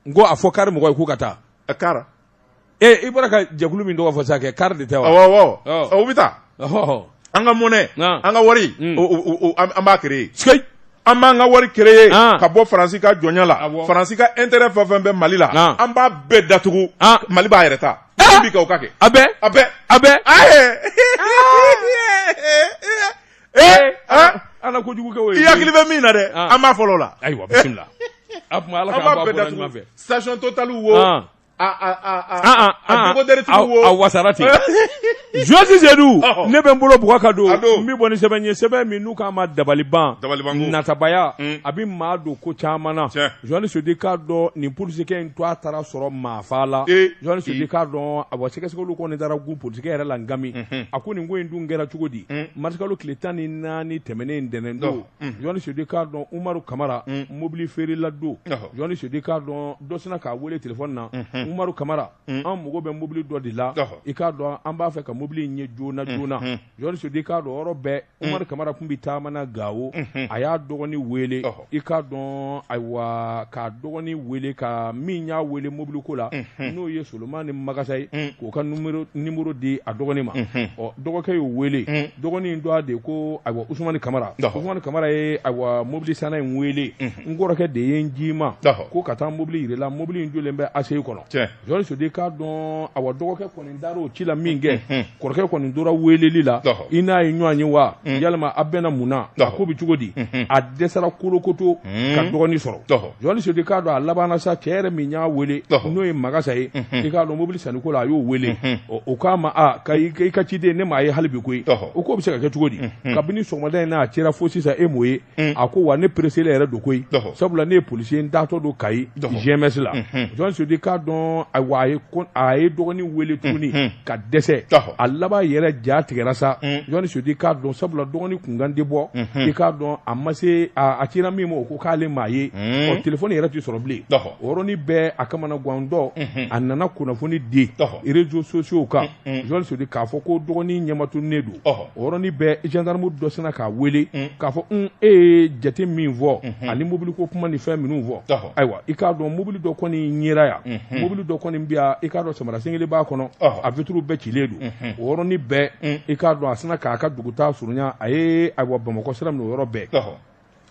n ko a fɔ kari mɔgɔ ye k'u ka taa kari ee i bɔra ka jɛkulu min tɔgɔ fɔ sisan kɛ kari de tɛ wa awɔ awɔ u bɛ taa an ka monnaie an ka wari an b'a créer an b'an ka wari créer ka bɔ faransi ka jɔnya la faransi ka intérêt fɛn fɛn bɛ mali la an b'a bɛɛ datugu mali b'a yɛrɛ ta bi ka kɛ a bɛ a bɛ a bɛ ala kojugu kɛ i hakili bɛ min na dɛ an b'a fɔlɔ la an b'a bɛɛ datugu station total wo wasara ten josi sedu ne bɛ n bolo bugɔ ka don n bɛ bɔ ni sɛbɛn ye sɛbɛn min n'u k'a ma dabaliban natabaya mm. a bɛ maa don ko caman na jɔni sudi k'a dɔn nin polisikɛ in to a taara sɔrɔ maafa la jɔni sudi k'a dɔn a sɛgɛsɛgɛli kɔni taara gun polisikɛ yɛrɛ la nkami mhm. a ko nin ko in dun kɛra cogo di mm. marisikalo tile tan ni naani tɛmɛnen ntɛnɛn don jɔnni sudi k'a dɔn umaru kamara mobili feerela don jɔnni sudi k'a dɔn dɔ sina k'a weele telefɔni na umaru kamara an mago bɛ mobili dɔ de la i k'a dɔn an b'a fɛ ka mobili in ye joona joona jɔnni sudi k'a dɔn yɔrɔ bɛɛ umaru kamara kun bɛ taama na gawo a y'a dɔgɔni weele i k'a dɔn ayiwa k'a dɔgɔni weele ka min y'a weele mobili ko la n'o ye solomani magasa ye mm. k'o ka numéro di a dɔgɔnin ma mm-hmm. ɔ dɔgɔkɛ y'o wele mm. dɔgɔnin tɔgɔ de ko ayiwa usumani kamara usumani kamara ye ayiwa mobili sanna in wele mm-hmm. n kɔrɔkɛ de ye n c'i ma ko ka taa mobili yir'i la mobili in jɔlen bɛ aseyi kɔnɔ jɔni sodi k'a dɔn awa dɔgɔkɛ kɔni taar'o ci la min kɛ mm-hmm. kɔrɔkɛ kɔni tora weeleli la i n'a ye ɲɔgɔn ye wa mm. yalima a bɛna mun na a ko bɛ cogo di mm-hmm. a dɛsɛra kolokoto mm. ka dɔgɔnin sɔrɔ jɔni sodi k'a dɔn a labanna sa cɛ yɛrɛ min y'a wele n'o ye magasa ye mm-hmm. i k'a dɔn mobili sanniko la a y'o wele mm-hmm. o k'a ma a i ka ciden ne m'a ye hali bi koyi o k'o bɛ se ka kɛ cogo di kabini sɔgɔmada in n'a cira fo sisan e m'o ye Mm. a ko wa ne pereselen yɛrɛ don koyi sabula ne ye polisi ye n taatɔ don kayi gms la mm-hmm. jɔn sodi k'a dɔn wa a ye dɔgɔni wele tuguni mm-hmm. ka dɛsɛ a laban yɛrɛ ja tigɛra sa mm. jɔn sodi k'a dɔn sabula dɔgɔni kunkan tɛ bɔ mm-hmm. i k'a dɔn a ma se a cira min ma o ko k'ale m'a ye mm. ɔ telefɔni yɛrɛ tɛ sɔrɔ bilen o yɔrɔnin bɛɛ a kamanagantɔ a nana kunnafoni di réseaux sociaux kan jɔn sudi k'a fɔ ko dɔgɔnin ɲɛmatunnen don o yɔrɔnin bɛɛ gendarme dɔ sina k'a weele k'a fɔ e ye jate min fɔ ani mobili ko kuma ni fɛn minnu fɔ ayiwa i k'a dɔn mobili dɔ kɔni yera yan mobili dɔ kɔni bɛ yan i k'a dɔn samara sen kelen b'a kɔnɔ a vitre bɛɛ cilen don o yɔrɔnin bɛɛ i k'a dɔn a sina k'a ka dugutaa surunya a ye ayiwa bamakɔ sira minɛ o yɔrɔ bɛɛ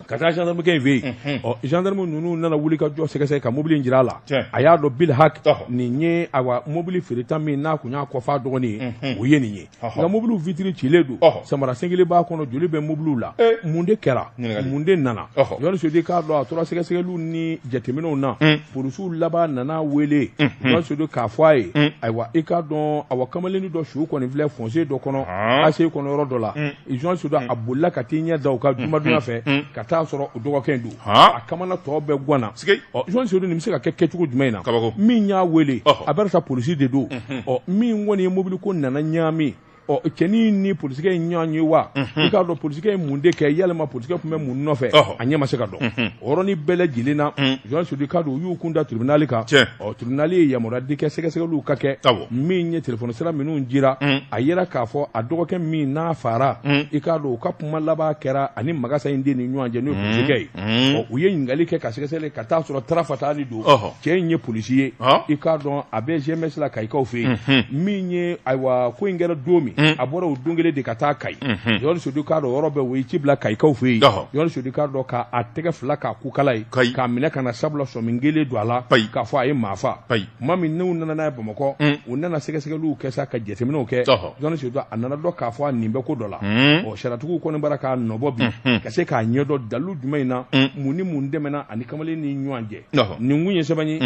ka taa gendarmekɛ in fɛ yen mhm. ɔ gendarme ninnu nana wuli ka jɔ sɛgɛsɛgɛ ka mobili in jira a la a y'a dɔn bil hak nin ye awa mobili feereta min n'a kun y'a kofɔ a dɔgɔnin ye mhm. o ye nin ye nka mobiliw vitiri cilen don samara sen kelen b'a kɔnɔ joli bɛ mobiliw la eh. mun de kɛra mun de nana jɔni sodi k'a dɔn a tora sɛgɛsɛgɛliw ni jateminɛw na mm. polisiw laban nana wele jɔni mm-hmm. sodi k'a fɔ a ye mm. ayiwa i k'a dɔn awa kamalennin dɔ su kɔni filɛ fossé dɔ kɔnɔ ACI kɔnɔ yɔrɔ dɔ la mm. Jɔni Sodi a bolila ka t'i ɲɛ da o kan jumadon yan fɛ ka t'a sɔrɔ o dɔgɔkɛ in don, ɔɔ, a kamana tɔ bɛɛ ganna, sikeyi, ɔ Jɔni Sodi nin bɛ se ka kɛ kɛcogo jumɛn in na, kabako, min y'a wele, ɔhɔ, a bɛ sa polisi de don, unhun, ɔ min kɔni ye mobili ko nana ɲagami, ɔ cɛnin in ni polisikɛ in ɲɔgɔn ye wa, unhun, i k'a dɔn polisikɛ ye mun de kɛ yalima polisikɛ tun bɛ mun nɔfɛ, ɔhɔ, a ɲɛ ma se ka dɔn, unhun, o yɔrɔnin bɛɛ lajɛlen na, Jɔni Sodi i k'a dɔn u y'u kun da tribunal kan, tiɲɛ ɔ tribunali ye yamaruya di kɛ sɛgɛsɛgɛliw ka kɛ min ye telefɔni sira minnu jira mm. a yera k'a fɔ a dɔgɔkɛ min n'a faara mm. i k'a dɔn u ka kuma laban kɛra ani magasa in den ni ɲɔgɔn cɛ n'o ye mm. polisikɛ ye ɔ u ye ɲininkali kɛ ka sɛgɛsɛgɛli ka t'a sɔrɔ tarafata ni don cɛ in ye polisi ye i k'a dɔn a bɛ gms la kayikaw fɛ yen mm-hmm. min ye ayiwa ko in kɛra don min a bɔra o don kelen de ka taa kayi mm-hmm. jɔni sodi k'a dɔn yɔrɔ bɛɛ o ye ci bila kayikaw fɛ yen jɔni sodi k'a dɔn k'a tɛgɛ fila k'a kukala ye k'a minɛ ka na sabula sɔmi kɛlen don a la k'a fɔ a ye maa faa tuma min n'u nana n'a ye bamakɔ u nana sɛgɛsɛgɛliw kɛ sa ka jateminɛw kɛ jɔni sodi a nana dɔn k'a fɔ a nin bɛ ko dɔ la ɔ sariyatigiw kɔni b'a la k'a nɔbɔ bi ka se k'a ɲɛdɔn dalilu jumɛn in na mun ni mun tɛmɛna ani kamalen ni ɲɔgɔn cɛ nin kun ye sɛbɛn ye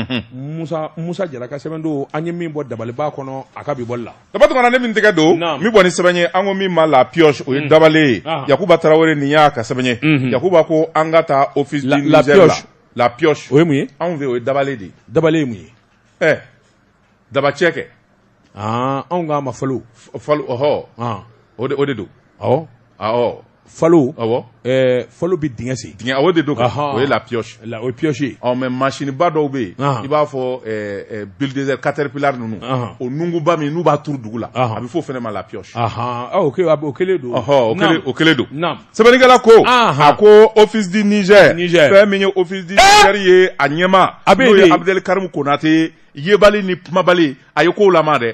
musa jara ka sɛbɛn don an ye min bɔ dabaliba kɔnɔ a ka bi bɔli la daba tuma ne min tɛgɛ don min bɔ ni sɛbɛn ye an ko min ma la pioche o ye mm. dabalen ye ah. yakuba tarawele nin y'a ka sɛbɛn ye mm-hmm. yakuba ko an ka taa ofisi la la pioche o ye mun ye anw fɛ o ye dabalen de ye dabalen ye mun ye ɛ eh, dabacɛ kɛ ah, anw k'a ma falo falo ɔhɔ ah. o de don awɔ falo falo bɛ dingɛ sen o de don o ye la pioche ye o pioche mɛ masinba dɔw bɛ yen i b'a fɔ bulldozer caterpillar ninnu o nunkunba min n'u b'a turu dugu la a bɛ fɔ o fana ma la pioche o kelen don hɔn o kelen don sɛbɛnnikɛla ko a ko office du niger fɛn min ye office du niger ye a ɲɛmaa n'o ye abdel karim konate yebali ni kumabali a ye ko dɛ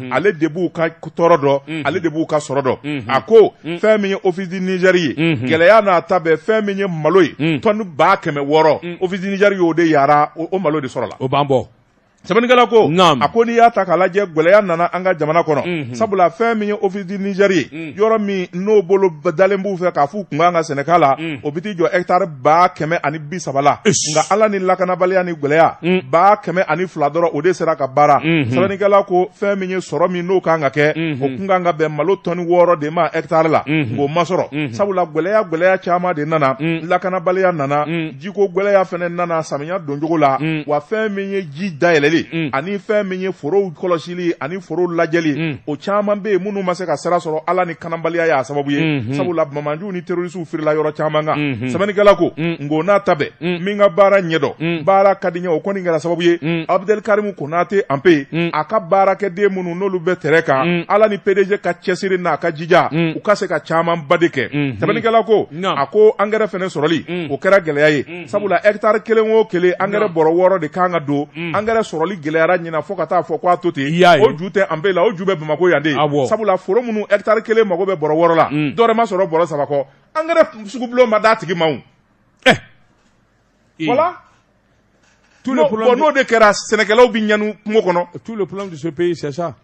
ale de b'u ka tɔɔrɔ dɔn ale de b'u ka sɔrɔ dɔn a ko fɛn min ye office du niger ye gɛlɛya n'a ta bɛɛ fɛn min ye malo ye tɔni ba kɛmɛ wɔɔrɔ office du niger y'o de yira o malo de sɔrɔla o b'an bɔ sɛbɛnnikɛla ko a ko n'i y'a ta k'a lajɛ gɛlɛya nana an ka jamana kɔnɔ sabula fɛn min ye office du niger ye yɔrɔ min n'o bolodalen b'u fɛ k'a f'u kun kan ka sɛnɛka la mm. o bɛ t'i jɔ hɛtari ba kɛmɛ ani bi saba la nka ala ni lakanabaliya ni gɛlɛya mm. ba kɛmɛ ani fila dɔrɔn o de sera ka baara mm-hmm. sɛbɛnnikɛla ko fɛn min ye sɔrɔ min n'o kan ka kɛ mm-hmm. o kun kan ka bɛn malo tɔni wɔɔrɔ de ma hɛtari la mm-hmm. k'o ma sɔrɔ sabula gɛlɛya gɛlɛya caman de nana mm. lakanabaliya nana jiko gɛlɛya fɛnɛ nana samiya doncogo la wa fɛn min ye ji dayɛlɛli ani fɛn min ye forow kɔlɔsili ani forow lajɛli o caman bɛ yen minnu ma se ka sira sɔrɔ ala ni kanabaliya y'a sababu ye sabula bamanjuw ni terorisiw firila yɔrɔ caman kan sɛbɛnnikɛla ko nka o n'a ta bɛɛ min ka baara ɲɛdɔn baara ka di ɲɛ o kɔni kɛra sababu ye Abdel Karim Konaté Empé a ka baarakɛden minnu n'olu bɛ terrain kan ala ni PDG ka cɛsiri n'a ka jija u ka se ka caman ba de kɛ sɛbɛnnikɛla ko a ko engrais fɛnɛ sɔrɔli o kɛra gɛlɛya ye sabula hectare kelen o kelen engrais bɔrɔ wɔɔrɔ de kan ka don engrais sɔrɔli gɛlɛyara ɲinan fo ka taa fɔ k'a to ten o ju tɛ Empé la o ju bɛ Bamakɔ yan de sabula foro minnu hectare kelen mago bɛ bɔrɔ wɔɔrɔ la dɔ wɛrɛ ma sɔrɔ bɔrɔ saba kɔ engrais sugu bulon ma d'a tigi ma o voilà n'o de kɛra sɛnɛkɛlaw bɛ ɲani kungo kɔnɔ tout le problème de ce pays c'est ça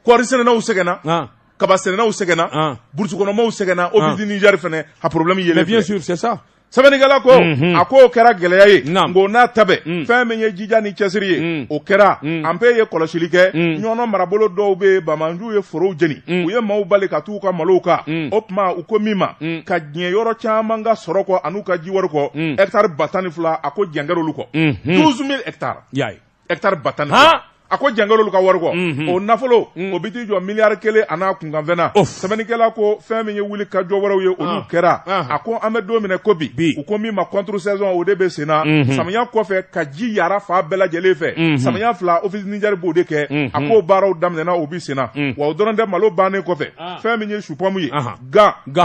kɔɔri sɛnɛnaw sɛgɛnna, an, kaba sɛnɛnaw sɛgɛnna, an, burusi kɔnɔmaw sɛgɛnna, an, Office du Niger fɛnɛ a problème yelen filɛ, mais bien sûr c'est ça sɛbɛnnikɛla ko Unhun. a k'o kɛra gɛlɛya ye Naam. nka o n'a ta bɛɛ Mm. fɛn min ye jija ni cɛsiri ye Mm. o kɛra Mm. Empé ye kɔlɔsili kɛ Mm. ɲɔnɔ marabolo dɔw bɛ yen bamanjuw ye forow jeni Mm. u ye maaw bali ka t'u ka malow kan Mm. o tuma u ko min ma Mm. ka diɲɛ yɔrɔ caman ka sɔrɔ kɔ an'u ka jiwari kɔ Mm. hɛkitari ba tan ni fila a ko jɛn kɛr'olu kɔ Mhm. 12000 hɛkitari y'a ye hectari ba tan ni fila, han, a ko jɛn kɛr'olu ka wari kɔ, unhun, o nafolo, un, o bɛ t'i jɔ miliyari kelen an'a kunkanfɛn na, Of. sɛbɛnnikɛla ko fɛn min ye wulikajɔ wɛrɛw ye olu Ah. kɛra, Ah. a ko an bɛ don minɛ ko bi, Bi. u ko min ma contre saison o de bɛ sen na, Mhm. samiya kɔfɛ ka ji yaara fan bɛɛ lajɛlen fɛ, Mhm. samiya fila office Niger b'o de kɛ, Mhm. a k'o baaraw daminɛna o bi sen na, Mm. wa o dɔrɔn tɛ malo bannen kɔfɛ, Ah. fɛn min ye supɔmu ye, Ahan.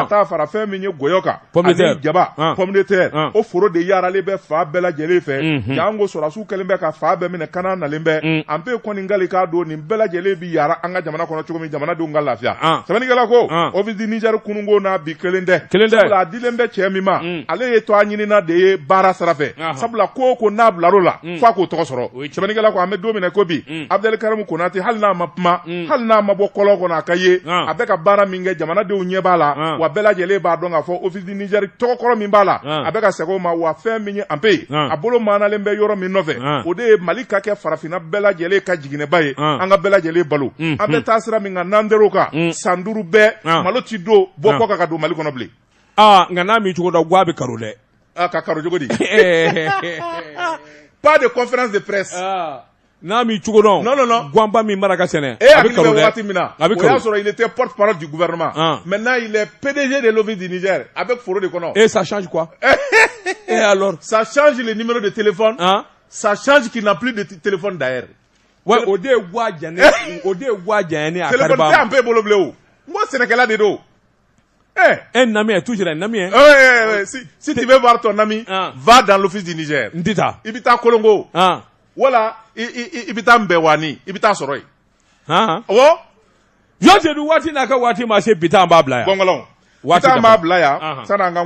t'a fara fɛn min ye gɔyɔ kan ani jaba pomme de terre o foro de yaaralen bɛ fan bɛɛ lajɛlen fɛ janko sɔrɔsiw kɛlen bɛ ka fan bɛɛ minɛ kana nalen bɛ Empé kɔni kalikan don nin bɛɛ lajɛlen bɛ yaara an ka jamana kɔnɔ cogo min jamanadenw ka lafiya sɛbɛnnikɛla ko Office du Niger kununko n'a bi kelen tɛ sabula a dilen bɛ cɛ min ma ale ye tɔgɔɲinina de ye baara sira fɛ sabula ko o ko n'a bilar'o la f'a k'o tɔgɔ sɔrɔ sɛbɛnnikɛla ko an bɛ don minɛ ko bi Abdel Karim Konaté hali n'a ma kuma hali n'a ma bɔ kɔlɔn kɔnɔ a ka ye a bɛ ka baara min kɛ jamanadenw ɲɛ b'a la wa bɛɛ lajɛlen b'a dɔn k'a fɔ Office du Niger tɔgɔkɔrɔ min b'a la a bɛ ka segin o ma wa fɛn min ye Empé ye a bolo maanalen bɛ yɔrɔ min nɔfɛ o de ye mali ka kɛ farafinna bɛɛ lajɛlen ka jiginɛba ye an ka bɛɛ lajɛlen balo an bɛ taa sira min kan n'an tor'o kan san duuru bɛɛ malo tɛ don bɔ kɔkan ka don mali kɔnɔ bilen nka n'a min cogo da ga bɛ kalo dɛ ka kalo cogo di pas de conférence de presse N'a m'i cogo dɔn, non, non, non, ganba min mana ka sɛnɛ, e hakili bɛ waati min na, a bɛ karon, o y'a sɔrɔ il était porte-parole du gouvernement, an, maintenant il est PDG de l'Office du Niger a bɛ foro de kɔnɔ, et ça change quoi? et alors? ça change le numéro de téléphone, an, ça change qu'il n'a plus de téléphone d'ailleurs, ouais o de ye wa janya, o de ye wa janya ne ye a karaba, téléphone tɛ Empé bolo bilen o, n ko sɛnɛkɛla de don. un ami est toujours un ami si tu veux voir ton ami va dans l'Office du Niger n tɛ i bɛ taa Kolongo wala i bɛ taa Mbɛwani i bɛ t'a sɔrɔ yen jɔn don waati n'a ka waati ma se bi taa b'a bila yan bɔn waati b'a bila yan san